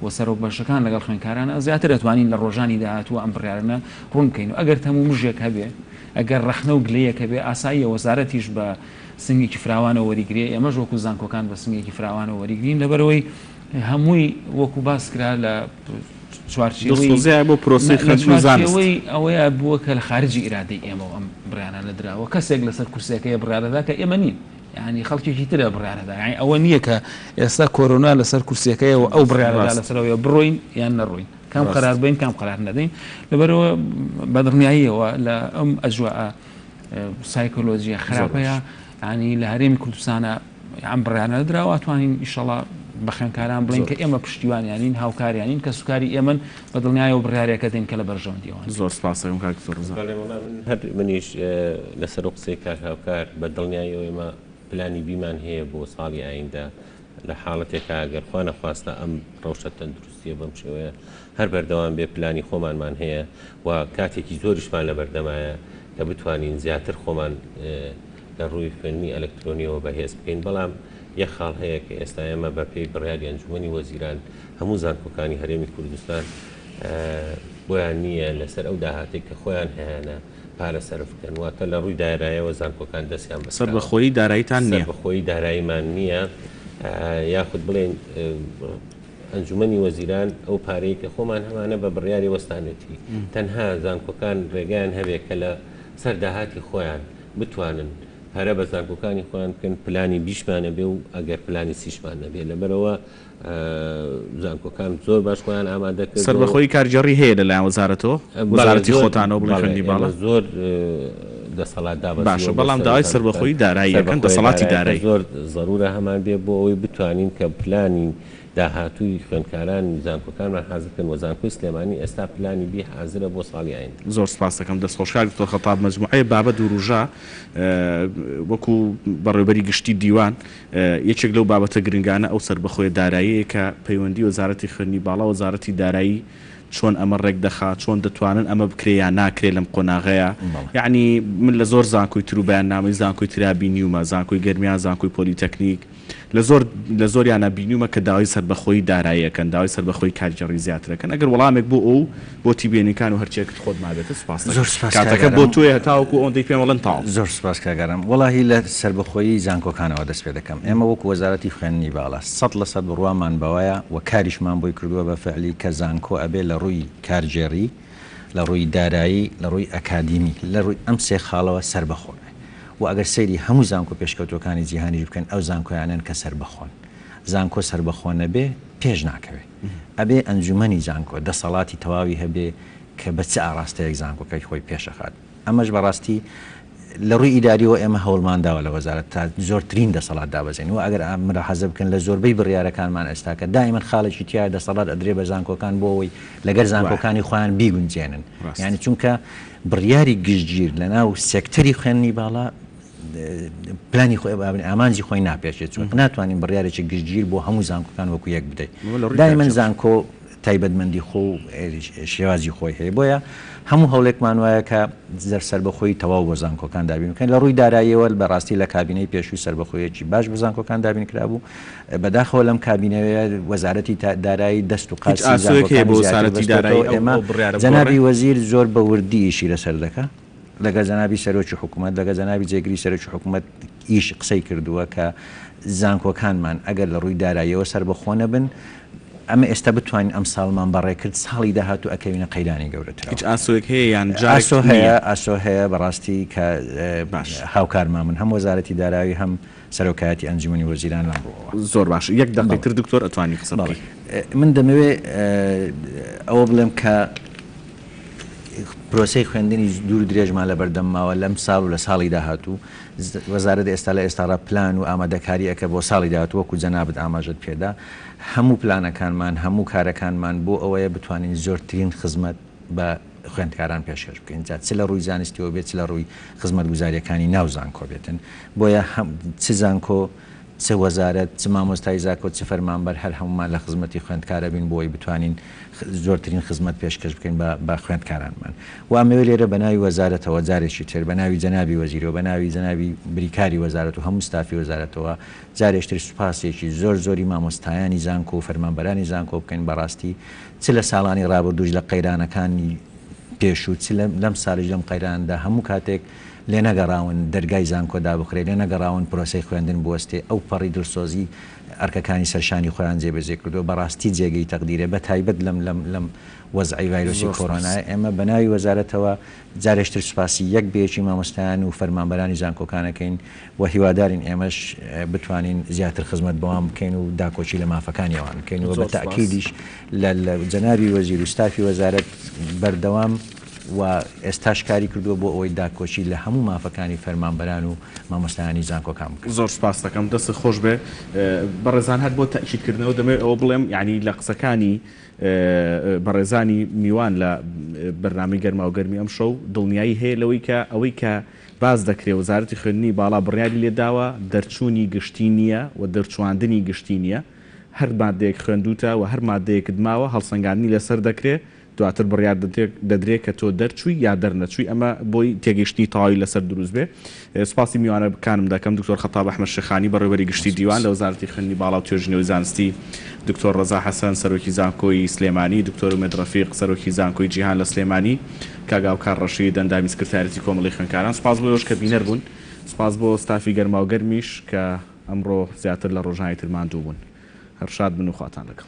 و سەرۆک بەشەکان لەگەڵ خوێندکارانە زیاتر ئەتوانین لە ڕۆژانی داهاتووە ئەم بڕیارەنە ڕوون بکەین و ئەگەر تەم و مژێک هەبێ ئەگەر ڕەخنە و گلەیەک هەبێ ئاساییە وەزارەتیش بە سنگێکی فراوانەوە وەریگرێ ئێمەش وەکو زانکۆکان بە سنگێکی فراوانەوە وەریگرین لەبەرئەوەی هەمووی وەکو باس کرا لە چوارچێوەی دڵسۆزییە بۆ پرۆسەی خوێندن و زانست لە چوارچێوەی ئەوەیە بووە کە لە خارجی ئیرادەی ئێمەوە ئەم بڕیارانە دراوە کەسێک لەسەر کورسیەکەیە بڕیارەدا کە ئێمە نین. یانی خەڵکێکی ترە بڕیارەدا یانی ئەوە نییە کە ئێستا کۆرۆنا لەسەر کورسیەکەی و ئەو بڕیارەدا لەسەرەوەی بڕۆین یان نەڕۆین کام قرار بین کام قرار نەدەین لەبەرەوە بەدڕنیاییەوە لە ئەم ئەجووە سایکۆلۆژیە خراپەیە ینی لە هەرێمی کوردستانە ئەم بڕیانە دراوە توانین ئیشەڵا بە خوێنکاران بڵین کە ئێمە پشتیوانیانین هاوکاریانین کە سوکاری ئێمن بە دڵنیایەوە بڕیارێکە دەین کە لە بەرژەوەندییەوە نییە. زۆر سپاس دەکەم کاک دکتۆر ڕەزا. بەڵێ وەڵا من هەر منیش لەسەر قسەی کاک هاوکار بە دڵنیایەوە ئێمە پلانی بی مان هەیە بۆ ساڵی ئایندە لە حاڵەتێکا گەر خوا نەخواستە ئەم ڕەوشە تەندروستییە بەم شێوەیە هەر بەردەوام بێ پلانی خۆمانمان هەیە و کاتێکی زۆریشمان لە بەردەمایە کە بتوانین زیاتر خۆمان لە ڕووی خوێندنی ئەلکترۆنیەوە بەهێز بکەین، بەڵام یەک خاڵ هەیە کە ئێستا ئێمە بە پێی بڕیاری ئەنجومەنی وەزیران هەموو زانکۆکانی هەرێمی کوردستان بۆیان نییە لەسەر ئەو داهاتەی کە خۆیان هەیانە پارە سەرف بکەن، واتە لە ڕووی دارایەوە زانکۆکان دەستیان بە کراوە. سەربەخۆیی دارایتان نییە؟ سەربەخۆیی دارایمان نییە، یاخود بڵێین ئەنجومەنی وەزیران ئەو پارەی کە خۆمان هەمانە بە بڕیاری وەستانێتی، تەنها زانکۆکان ڕێگایان هەبێ کە لە سەر داهاتی خۆیان، بتوانن پەرە بە زانکۆکانی خۆیان بکەن پلانی بیشمان نەبێ و ئەگەر پلانی سیشمان نەبێ لەبەرئەوە زانکۆکان زۆر باش خۆیان ئامادە کردوە و. سەربەخۆیی کارگێڕی هەیە لەلایەن وەزارەتەوە؟ وەزارەتی خۆتانەوە بڵێن خوێندنی باڵا؟ بەڵێ زۆر، بەڵێ زۆر دەسەڵات دابەزیوە بۆ سەروو زانکۆکان. باشە بەڵام داوای سەربەخۆیی دارایی ئەکەن دەسەڵاتی دارایی؟ سەربەخۆیی دارایی کە زۆر زەرورە هەمان بێ بۆ ئەوەی بتوانین کە پلانی. داهاتووی خوێندکارانی زانکۆکانمان حازر کەن وە زانکۆی سلێمانی ئێستا پلانی بی حازرە بۆ ساڵی ئایندە. زۆر سپاست دەکەم دەست خۆش کاک دکتۆر خەتاب مەجموعەی بابەت وروژا وەکو بەڕێوبەری گشتی دیوان یەکێک لەو بابەتە گرنگانە ئەو سەربەخۆیە دارایەیە کە پەیوەندی وەزارەتی خوێندنی باڵا وەزارەتی دارایی چۆن ئەمە ڕێک دەخا چۆن دەتوانن ئەمە بکرێ یا ناکرێ لەم قۆناغەیا یەعنی من لە زۆر زانکۆی ترو بەیاننامەی زانکۆی ترا بینیومە زانکۆی گەرمیان زانکۆی پۆلیتەکنیک لە زۆر لە زۆریانا بینیومە کە داوای سەربەخۆیی دارایی ئەکەن، داوای سەربەخۆیی کارگێڕی زیاتر ئەکەن، ئەگەر وەڵامێک بۆ ئەو بۆتی بێنیکان و هەرچیەکت خۆت مابێتت سوپاست زۆر ئەکەم، سوپاس کاکە کاتەکە گەرم. بۆ تۆیە هەتاوەکو ئەوەندەی پێم ئەڵێن تەواو. زۆر سوپاس کاک ئارام. وەڵاهی لە سەربەخۆیی زانکۆکانەوە دەست پێ دەکەم. ئێمە وەکو وەزارەتی خوێندنی باڵا سەد لە سەد بڕوامان بەوەیە و کاریشمان بۆی کردووە بە فەعلی کە زانکۆ ئەبێ لە ڕووی کارگێڕی، لە ڕووی دارایی، لە ڕووی ئەکادیمی، لە ڕووی ئەم سێ خاڵەوە سەربەخۆ بێ وە ئەگەر سەیری هەموو زانکۆ پێشکەوتووەکانی جیهانیش بکەن ئەو زانکۆیانەن کە سەربەخۆن. زانکۆ سەربەخۆ نەبێ پێش ناکەوێ. ئەبێ ئەنجومەنی زانکۆ دەسەڵاتی تەواوی هەبێ کە بە چ ئاڕاستەیەک زانکۆکەی خۆی پێش ئەخات. ئەمەش بە ڕاستی لە ڕووی ئیداریەوە ئێمە هەوڵمان داوە لە وەزارەت تا زۆرترین دەسەڵات دابەزێنین. وە ئەگەر ملاحەزە بکەن لە زۆربەی بڕیارەکانمان ئێستا کە دایمەن خاڵێکی تیایە دەسەڵات ئەدرێ بە زانکۆکان بۆ ئەوەی لەگەر زانکۆکانی خۆیان بیگونجێنن. یانی چونکە. بڕیاری گشتگیر لەناو سێکتەری خوێندنی باڵا پلانی خۆی با بڵێین ئامانجی خۆی ناپێچێت، چونکە ناتوانین بڕیارێکی گشتگیر بۆ هەموو زانکۆکان وەکو یەک بدەین. دایمەن زانکۆ تایبەتمەندی خۆ و شێوازی خۆی هەیە، بۆیە هەموو هەوڵێکمان وایە کە سەربەخۆیی تەواو بۆ زانکۆکان دابین بکەین. لە ڕووی داراییەوە بەڕاستی لە کابینەی پێشوو سەربەخۆییەکی باش بۆ زانکۆکان دابین کرابوو، بەداخەوە لەم کابینەیە وەزارەتی دارایی دەست و قاچی زانکۆکانی زیاتر بەستۆتەوە، ئێمە جەنابی وەزیر زۆر بە وردی ئیشی لەسەر دەکا، لەگەڵ جەنابی سەرۆکی حکومەت، لەگەڵ جەنابی جێگری سەرۆکی حکومەت یش قسەی کردووە کە زانکۆکانمان ئەگەر لە ڕووی داراییەوە سەربەخۆ نەبن، ئەمە ئێستا بتوانین ئەمساڵمان بەڕێ کرد ساڵی داهاتوو ئەکەوینە قەیرانی گەورەترەوە. ئاسۆ هەیە، ئاسۆ هەیە بەڕاستی کە هاوکارمان بن هەم وەزارەتی دارایی هەم سەرۆکایەتی ئەنجومەنی وەزیران لەم ڕووەوە. زۆر باشە یەک دەقەی تر دکتۆر ئەتوانی قسە بکەی. بەڵێ من دەمەوێ ئەوە بڵێم کە پرۆسەی خوێندنی دوور و درێژمان لە بەردەم ماوە لەم ساڵ و لە ساڵی داهاتوو وەزارەت ئێستا لە ئێستاڕا پلان و ئامادەکاری ئەکە بۆ ساڵی داهاتوو وەکو جەنابت ئاماژەت پێدا هەموو پلانەکانمان هەموو کارەکانمان بۆ ئەوەیە بتوانین زۆرترین خزمەت بە خوێندکاران پێشکەش بکەین جا چ لە ڕووی زانستیەوە بێت چ لە ڕووی خزمەتگوزاریەکانی ناو زانکۆ بێتن بۆیە هەم چ زانکۆ چ وەزارەت چ مامۆستای زاکۆ چ فەرمانبەر هەر هەموومان لە خزمەتی خوێندکار ئەبین بۆی بتوانین زۆرترین خزمەت پێشکەش بکەین بە بە خوێندکارانمان و ئەمەوێ لێرە بە ناوی وەزارەتەوە جارێکی تر بە ناوی جەنابی وەزیرەوە بە ناوی جەنابی بریکاری وەزارەت و هەموو ستافی وەزارەتەوە جارێکتر سوپاسێکی زۆر زۆری مامۆستایانی زانکۆ و فەرمانبەرانی زانکۆ بکەین بەڕاستی چ لە ساڵانی ڕابردووش لە قەیرانەکانی پێشوو چ لەم ساڵیش لەم قەیرانەدا هەموو کاتێک لێنەگەڕاون دەرگای زانکۆ دابخرێ، لێنەگەڕاون پرۆسەی خوێندن بوەستێ، ئەو پەڕی دڵسۆزی ئەرکەکانی سەر شانی خۆیان جێبەجێ کردووە، بەڕاستی جێگەی تەقدیرە بەتایبەت لەم وەزعەی ڤایرۆسی کۆرۆنایە، ئێمە بەناوی وەزارەتەوە جارێش تر سوپاسی یەک بە یەکی مامۆستایان و فەرمانبەرانی زانکۆکان ئەکەین و هیوادارین ئێمەش بتوانین زیاتر خزمەت بەوان بکەین و داکۆکی لە مافەکانی ئەوان بکەین و بە تاکیدیش لە جەنابی وەزیر و ستافی وەزارەت بەردەوام و ئێستاش کاری کردووە بۆ ئەوەی داکۆکی لە هەموو مافەکانی فەرمانبەران و مامۆستایانی زانکۆکان بکەن. زۆر سوپاست دەکەم، دەستت خۆش بێ. بەڕێزان هەر بۆ تەئکیدکردنەوە دەمەوێت ئەوە بڵێم، یانی لە قسەکانی بەڕێزانی میوان لە بەرنامەی گەرماوگەرمی ئەمشەو دڵنیایی هەیە لەوەی کە ئەوەی کە باس دەکرێ وەزارەتی خوێندنی باڵا بڕیاری لێداوە دەرچوونی گشتی نییە و دەرچواندنی گشتی نییە هەر ماددەیەک خوێندووتە و هەر ماددەیەکت ماوە هەڵسەنگاندنی لەسەر دەکرێ دواتر بڕیار دەدرێ کە تۆ دەرچووی یا دەرنەچووی ئەمە بۆی تێگەیشتنی تەواوی لەسەر دروست بێ سوپاسی میوانەکانم دەکەم، دکتۆر خەتاب ئەحمەد شێخانی، بەڕێوەبەری گشتی دیوان لە وەزارەتی خوێندنی باڵا و توێژینەوەی زانستی، دکتۆر ڕەزا حەسەن، سەرۆکی زانکۆی سلێمانی، دکتۆر ئومێد ڕەفیق، سەرۆکی زانکۆی جیهان لە سلێمانی، کاک هاوکار ڕەشید، ئەندامی سکرتاریەتی کۆمەڵەی خوێندکاران، سوپاس بۆ ئێوەش کە بینەر بوون، سوپاس بۆ ستافی گەرماوگەرمیش کە ئەمڕۆ زیاتر لە ڕۆژانی تر ماندوو بوون. هەر شاد بن و خواتان لەگەڵ.